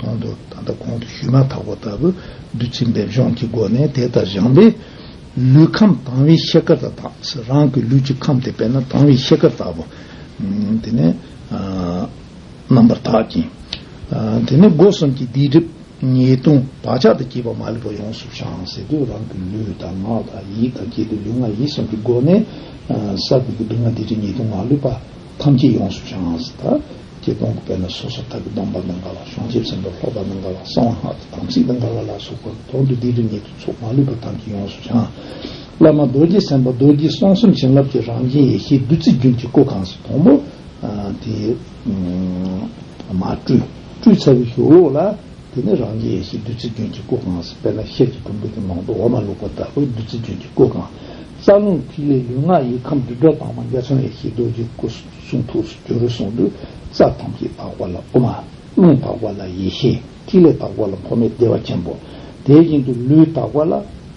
གོང་དུ་ད་ལྟ་གོང་དུ་ཞུས་མ་ཐག་པ་ལྟ་བུ་བདུད་རྩི་འབེབས་སྦྱོང་གི་སྒོ་ནས་དེ་ལྟར་སྦྱངས་པས། ལུས་ཁམས་དྭངས་བའི་ཤེལ་དཀར་དང་དྭངས་སེ་རང་གི་ལུས་ཀྱི་ཁམས་དེ་དཔེར་ན་དྭངས་བའི་ཤེལ་དཀར་ལྟ་བུ། དེ་ནས། རྣམ་པར་དག་ཅིང། དེ་ནས་སྒོ་གསུམ་གྱི་སྡིག་སྒྲིབ་ཉེས་ལྟུང་བག་ཆགས་དང་བཅས་པ་མ་ལུས་པ་ཡོངས་སུ་བྱང་སེ་དུས་རང་གི་ལུས་དང་ངག་དང་ཡིད་དང་བཅས་ཏེ་ལུས་ངག་ཡིད་གསུམ་གྱི་སྒོ་ནས། ས་བོན་གྱི་སྡུག་བསྔལ་སྡིག་སྒྲིབ་ཉེས་ལྟུང་མ་ལུས་པ་ཐམས་ཅད་ཡོངས་སུ་བྱང་སེ་ད། ཀྱེ་སྟོང་སྐུ་བས་ན་སོ་སོ་དག་གི་སྟོང་པ་དང་འགལ་བ་གཞོང་ཆེན་ཆེན་པོ་ལྷོག་པ་དང་འགལ་བ་གསང་བ་སྔགས་ཀྱི་དམ་ཚིག་དང་འགལ་བ་ལ་སོགས་པ་དོང་དུ་སྡིག་རི་ཉིད་དུ་ཚོགས་མ་ལུས་པ་ཐམས་ཅད་ཡོངས་སུ་བྱང། བླ་མ་རྡོ་རྗེ་སེམས་དཔའ་རྡོ་རྗེ་གསང་གསུམ་བྱིན་རླབས་ཀྱི་རང་བཞིན་ཡེ་ཤེས་བདུད་རྩི་རྒྱུན་གྱི་སྐུ་གང་སྲིད་དང་པོ། དེ། མ་བཀྲུས། བཀྲུས་ཚར་བའི་ཞོ་ལོགས་ལ། དེ་ནས་རང་རྒྱལ་ཡེ་ཤེས་བདུད་རྩི་རྒྱུན་གྱི་སྐུ་གང་སྲིད་པས་ན་ཤེལ་གྱི་གྲུམ་བུ་དེ་ནང་དུ་འོ་མ་བླུགས་པ་དག་པས་བདུད་རྩི་རྒྱུན་གྱི་སྐུ་གང། རྩ་རླུང་ཐིག་ལེ་ལུས་ངག་ཡིད་ཁམས་སྒྲིབ་གྲོགས་དྭངས་མ་རྒྱ་མཚོ་ཡེ་ཤེས་རྡོ་རྗེའི་སྐུ། གསུང་ཐུགས་སུ་གྱུར་གསུང་དུ་རྩ་ཐམས་ཅད་དག་པ་ལ་དབུ་མ། རླུང་དག་པ་ལ་ཡེ་ཤེས་ཐིག་ལེ་དག་པ་ལ་འཕོ་མེད་བདེ་བ་ཆེན་པོ། དེ་བཞིན་དུ་ལུས་དག་པ་ལ་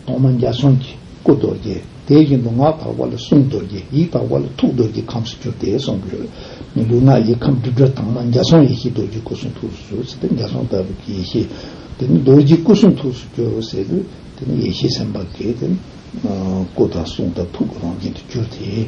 གདོང་མ་འཇའ་ཚོན་གྱི་སྐུ་རྡོ་རྗེ། དེ་བཞིན་དུ་ངག་དག་པ་ལ་གསུང་རྡོ་རྗེ་ཡིད་དག་པ་ལ་ཐུགས་རྡོ་རྗེ་ཁམས་སུ་གྱུར་ཏེ་གསུང་གི། ལུས་ངག་ཡིད་ཁམས་དྲི་བྲོ་དྭངས་མ་འཇའ་ཚོན་ཡེ་ཤེས་རྡོ་རྗེའི་སྐུ་གསུང་ཐུགས་སུ་གྱུར་ཏེ་འཇའ་ཚོན་ལྟ་བུ་གྱི་ཡེ་ཤེས། དེ་ནི་རྡོ་རྗེའི་སྐུ་གསུང་ཐུགས་སུ་གྱུར་ཟེར་དུས་དེ་ནི་ཡེ་ཤེས་སེམས་དཔའ་གྱི། སྐུ་དང་གསུང་དང་ཐུགས་ཀྱི་རང་བཞིན་དུ་གྱུར་ཏེ།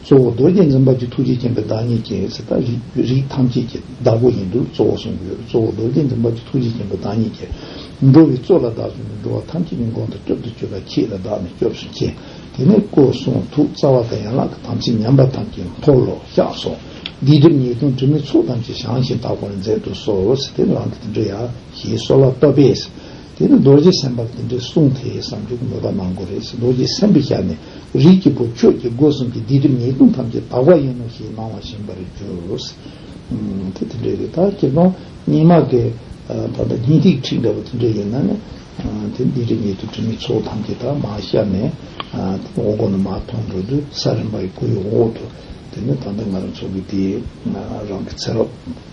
གཙོ་བོ་རྡོ་རྗེ་འཛིན་པ་གྱི་ཐུགས་རྗེ་སྐྱེངས་པའི་བདག་ཉིད་ཀྱི་ཚེ་ད་རིགས་ཐམས་ཅད་ཀྱི་བདག་པོ་ཡིན་དུས་གཙོ་བོ་གསུངས་ཀྱི་ཡོད་གཙོ་བོ་རྡོ་རྗེ་འཛིན་པ་གྱི་ཐུགས་རྗེ་སྐྱེངས་པའི་བདག་ཉིད་ཀྱིས། འགྲོ་བའི་གཙོ་ལ་བདག་གསུངས་ཏེ་འགྲོ་བ་ཐམས་ཅད་ཀྱི་མགོན་དུ་སྐྱོབ་ཏུ་སྤྱོད་པ་ཁྱེད་ལ་བདག་ནི་སྐྱོབས་སུ་མཁྱེན། དེ་ནས་སྐུ་གསུང་ཐུགས་རྩ་བ་དང་ཡན་ལག་གི་དམ་ཚིག་ཉམས་པ་ཐམས་ཅད་འཁོར་ལོ་བཤགས་སོ། སྡིག་སྒྲིབ་ཉེས་ལྟུང་དྲི་མའི་ཚོགས་ཐམས་ཅད་བྱང་ཞིང་དག་པར་མཛད་དུ་གསོལ། དེ་ལ་འདི་འདྲ་ཡང་ཞེས་གསོལ་བ་བཏབ་པས། དེ་ནི་རྡོ་རྗེ་སེམས་དཔའ་དེ་འདྲའི་གསུང་དེ་ཡི་བསམ་སྦྱོར་གྱི་མོས་པ་གནང་དགོས་རེད་ཟེར་རྡོ་རྗེ་སེམས་དཔས་ཤར་ནས་རིགས་ཀྱི་བུ་ཁྱོད་ཀྱིས་སྒོ་གསུམ་གྱི་སྡིག་སྒྲིབ་ཉེས་ལྟུང་ཐམས་ཅད་དག་པ་ཡིན་ནོ་ཞེས་གནང་བ་བཞིན་པར་གྱུར། དེ་དེ་འདྲའི་རེད་ད་ཁྱེད་རང་སྙིང་མ་དགའི་ད་ལྟ་སྙིང་ཐིག་ཁྲིག་འདྲ་བོ་དེ་འདྲ་ཡིན་ན་ནི། དེ་སྡིག་སྒྲིབ་ཉེས་ལྟུང་དྲི་མའི་ཚོགས་ཐམས་ཅད་དག་མ་ཤར་ནས། དེ་འོག་སྒོ་ནས་མ་མཐོང་འགྲོ་དུས་ས་རིམ་པ་ཡི་སྐུ་ཡི་འོག་ཏུ་དེ་ནི་ད་ལྟ་ང་རང་ཚོ་གི་དེ་རང་གི་ཚེ་རབས།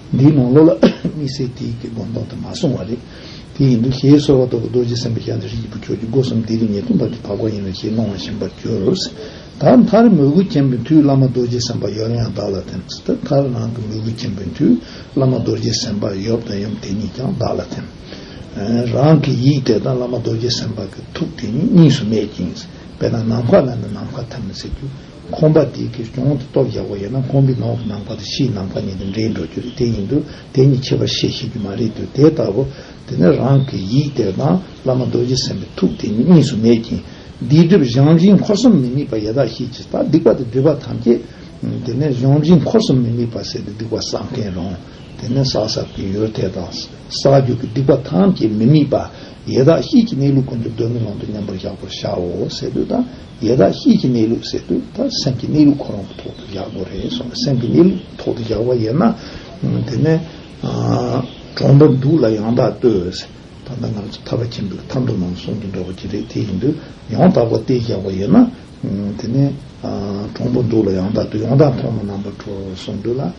འདིའི་ནང་ལོགས་ལ་དམིགས་བསལ་དེ་ཡིག་གི་སྒོམ་སྟངས་དུ་མ་སོང་བ་རེད། དེ་ཡིན་དུས་ཞེས་གསོལ་བ་ཐོབ་པའི་རྡོ་རྗེ་སེམས་དཔའི་ཞབས་འདེགས་ཤིག་ཡིག་བུ་ཁྱོད་ཀྱི་སྒོ་གསུམ་དེ་རིང་ཉེར་གསུམ་བར་གྱི་བར་སྐོར་ཡིན་ནོ་ཞེས་གནང་བ་བཞིན་པར་གྱུར། ད་མཐར་མོས་གུས་ཆེན་པོས་མཐུས་བླ་མ་རྡོ་རྗེ་སེམས་དཔའ་ཡབ་ཡང་བདག་ལ་ཐིམ། ད་མཐར་རང་གི་མོས་གུས་ཆེན་པོས་མཐུས་བླ་མ་རྡོ་རྗེ་སེམས་དཔའ་ཡབ་དང་ཡུམ་དེ་གཉིས་ཀྱང་བདག་ལ་ཐིམ། རང་གི་ཡིག་དེ་དང་བླ་མ་རྡོ་རྗེ་སེམས་དཔའ་གི་ཐུགས་དེ་གཉིས་གཉིས་སུ་མེད་ཅིང། དཔེར་ན་ནམ་མཁའ་ལ་ནི་ནམ་མཁའ་ཐིམ་ཟེར་རྒྱུ། ཁོང་པ་འདི་གིས་གྱོང་དེ་སྟོབས་རྒྱག་པ་ཡིན་ན་ཁོང་པའི་ནང་གི་ནང་པ་དང་ཕྱིའི་ནང་པ་གཉིས་དེ་འདྲེས་འགྲོ་རྒྱུ་རེད་དེ་ཡིན་དུས་དེ་གཉིས་ཁྱད་པར་བཤད་ཤེས་རྒྱུ་མ་རེད་དུས་དེ་ལྟ་བུ་དེ་ནི་རང་གི་ཡིད་བདེ་བ་དང་བླ་མ་རྡོ་རྗེ་སེམས་པའི་ཐུགས་དེ་གཉིས་གཉིས་སུ་མེད་ཅིང་སྡིག་སྒྲིབ་གཞོམ་བཞིན་འཁོར་གསུམ་མི་དམིགས་པ་ཡེ་དག་ཤེས་ཀྱིས་ད་སྡིག་པ་དང་སྒྲིབ་པ་ཐམས་ཅད་དེ་ནས་གཞོམ་བཞིན་འཁོར་གསུམ་མི་དམིགས་པར་ཟད་དེ་སྡིག་པ་བསགས་མཁན་རང་དེ་ནས་བསགས་བསགས་དུས་ཡུལ་དེ་དང་བསགས་རྒྱུ་གི་སྡིག་པ་ཐམས་ཅད་མི་དམིགས་པ་ཡེ་དག་ཤེས་ཀྱིས་གནས་ལུགས་ཀུན་ཏུ་གདོན་མི་ལོང་དུ་མཉམ་པར་བཞག་པར་བྱའོ་ཟེར་དུས་ད་ཡེ་དག་གཤིས་ཀྱི་གནས་ལུགས་ཟེར་དུས་ད་སེམས་ཀྱི་གནས་ལུགས་ཁོ་རང་གི་ཐོག་ཏུ་བཞག་དགོས་རེད་སོང་སེམས་ཀྱི་གནས་ལུགས་ཐོག་ཏུ་བཞག་པ་ཡིན་ན། དེ་ནས། གྲོང་པར་འདུག་ལ་ཡང་དག་ལྟོས། ད་ལྟ་ང་ཚོ་ཐར་བ་ཆེན་པོའི་ཐར་འདོད་ནང་སོང་གི་འགྲོ་བ་ཅི་རེད་དེ་ཡིན་དུས་ཡང་དག་པར་ལྟོས་བཞག་པ་ཡིན་ན། དེ་ནས། གྲོང་པར་འདུག་ལ་ཡང་དག་ལྟོས་ཡང་དག་མཐོང་ན་ནང་པར་འགྲོ་སོང་དུས་ལ།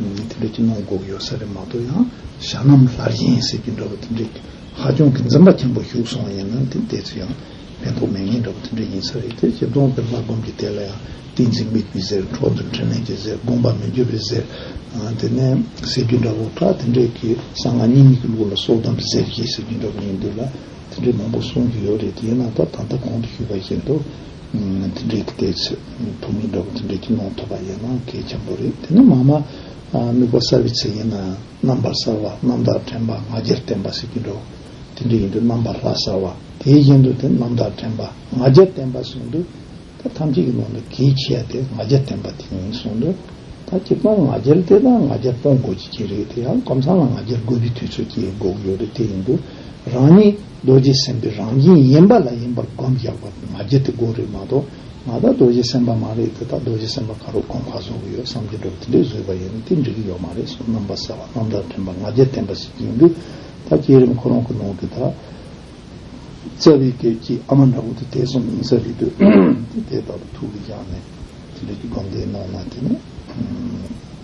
དེ་འདྲའི་སྐྱིད་སྣང་སྒུག་ཡོད་ས་རེད་མ་གཏོགས་ཡང་ཞྭ་ནམ་ལྷར་ཡིན་ཟེར་གྱི་འདྲ་བོ་དེ་འདྲའི་ཧ་ཅང་གི་འཛེམ་པ་ཆེན་པོ་ཞུགས་སོང་བ་ཡིན་ན་དེ་བལྟས་ཚེ་ཡང་ཕན་ཐོགས་མེད་ངེས་འདྲ་བོ་དེ་འདྲ་ཡིན་ས་རེད་དེ་བཞིན་གདོང་པའི་ལྷ་སྒོམ་གྱི་སྡེ་ལ་ཡང་ཏིང་འཛིན་དམིགས་པའི་གཟེར་འཕྲོ་འདུ་འཕྲོ་མེད་ཀྱི་གཟེར་དགོངས་པ་མི་འགྱུར་བའི་གཟེར་དེ་ནས་ཟེར་གྱི་འདྲ་བོ་ཁ་དེ་འདྲས་ཀྱི་གསང་སྔགས་སྙིང་ཉིད་ཀྱི་ལུགས་ལ་སྲོག་དམ་པའི་གཟེར་གྱིས་ཟེར་གྱི་འདྲ་བོ་ཡིན་འདུག་ལ་དེ་འདྲས་མང་པོ་གསུང་གི་ཡོད་རེད་དེ་ཡིན་ན་ད་ད་ལྟ་གོང་དུ་ཞུས་པ་བཞིན་དུ། འདི་འདྲའི་སྐད་ཆ་ཐུང་ངུ་འདྲ་བོ་འདི་འདྲ་ཁྱི་ནང་ཐོབ་པ་ཡིན་ན་གལ་ཆེན་པོ་རེད་དེ་ནི་མང་མ་དམིགས་པ་གསར་བའི་ཚིག་ཡིན་ན་རྣམ་པར་གསར་བ་རྣམ་དག་དྲན་པ་ང་རྒྱལ་བརྟན་པ་ཟེར་གྱི་འདུག་དེ་འདྲ་ཡིན་དུས་རྣམ་པར་ལྷ་གསར་བ་དེའི་བཞིན་དུ་དེ་རྣམ་དག་དྲན་པ་ང་རྒྱལ་བརྟན་པ་གསུངས་འདུག་ད་ཐམས་ཅད་ཀྱི་ནང་དུ་གལ་ཆེ་བ་དེ་ང་རྒྱལ་བརྟན་པ་དེ་ཡིན་གསུངས་འདུག་ད་སྤྱིར་བཏང་ང་རྒྱལ་དེ་དང་ང་རྒྱལ་སྤོང་དགོས་ཀྱི་ཀྱི་རེད་དེ་ཡང་ཀམ་ཚང་ལ་ང་རྒྱལ་དགོས་པའི་དུས་ཚོད་ཀྱི་དགོས་ཀྱི་ཡོད་རེད་དེ་ཡིན་དུས་རང་ཉིད། རྡོ་རྗེ་སེམས་དཔའི་རང་བཞིན་ཡིན་པ་ལ་ཡིན་པར་བསྒོམ་རྒྱག་པ་ང་རྒྱལ་དེ་དགོས་རེད་མ་གཏོགས་ང་དག་རྡོ་རྗེ་སེམས་དཔའ་མ་རེད་དེ་དག་རྡོ་རྗེ་སེམས་དཔའ་ག་རུ་གོང་ཁ་བཟོ་གི་ཡོད་བསམ་གྱི་འགྲོ་དེ་འདྲས་བཟོས་པ་ཡིན་ན་དེ་འགྲིག་གི་ཡོད་མ་རེད་སོགས་རྣམ་པ་གསལ་བ་རྣམ་དག་དྲན་པ་ང་རྒྱལ་ལྡན་པ་ཞིག་ཡིན་དུས་ད་བསྐྱེད་རིམ་ཁོ་རང་གི་ནང་གི་ད་རྩ་བའི་སྐད་ཀྱི་ཨ་མ་འདྲ་བོ་དེ་དེ་གསུམ་ཡིན་ས་རེད་དུས་དེ་དེ་དག་ཏུ་ཐུག་གི་ཡག་ནས་དེ་འདྲས་ཀྱི་སྒོམ་བཟླས་གནང་ན་དེ་ནས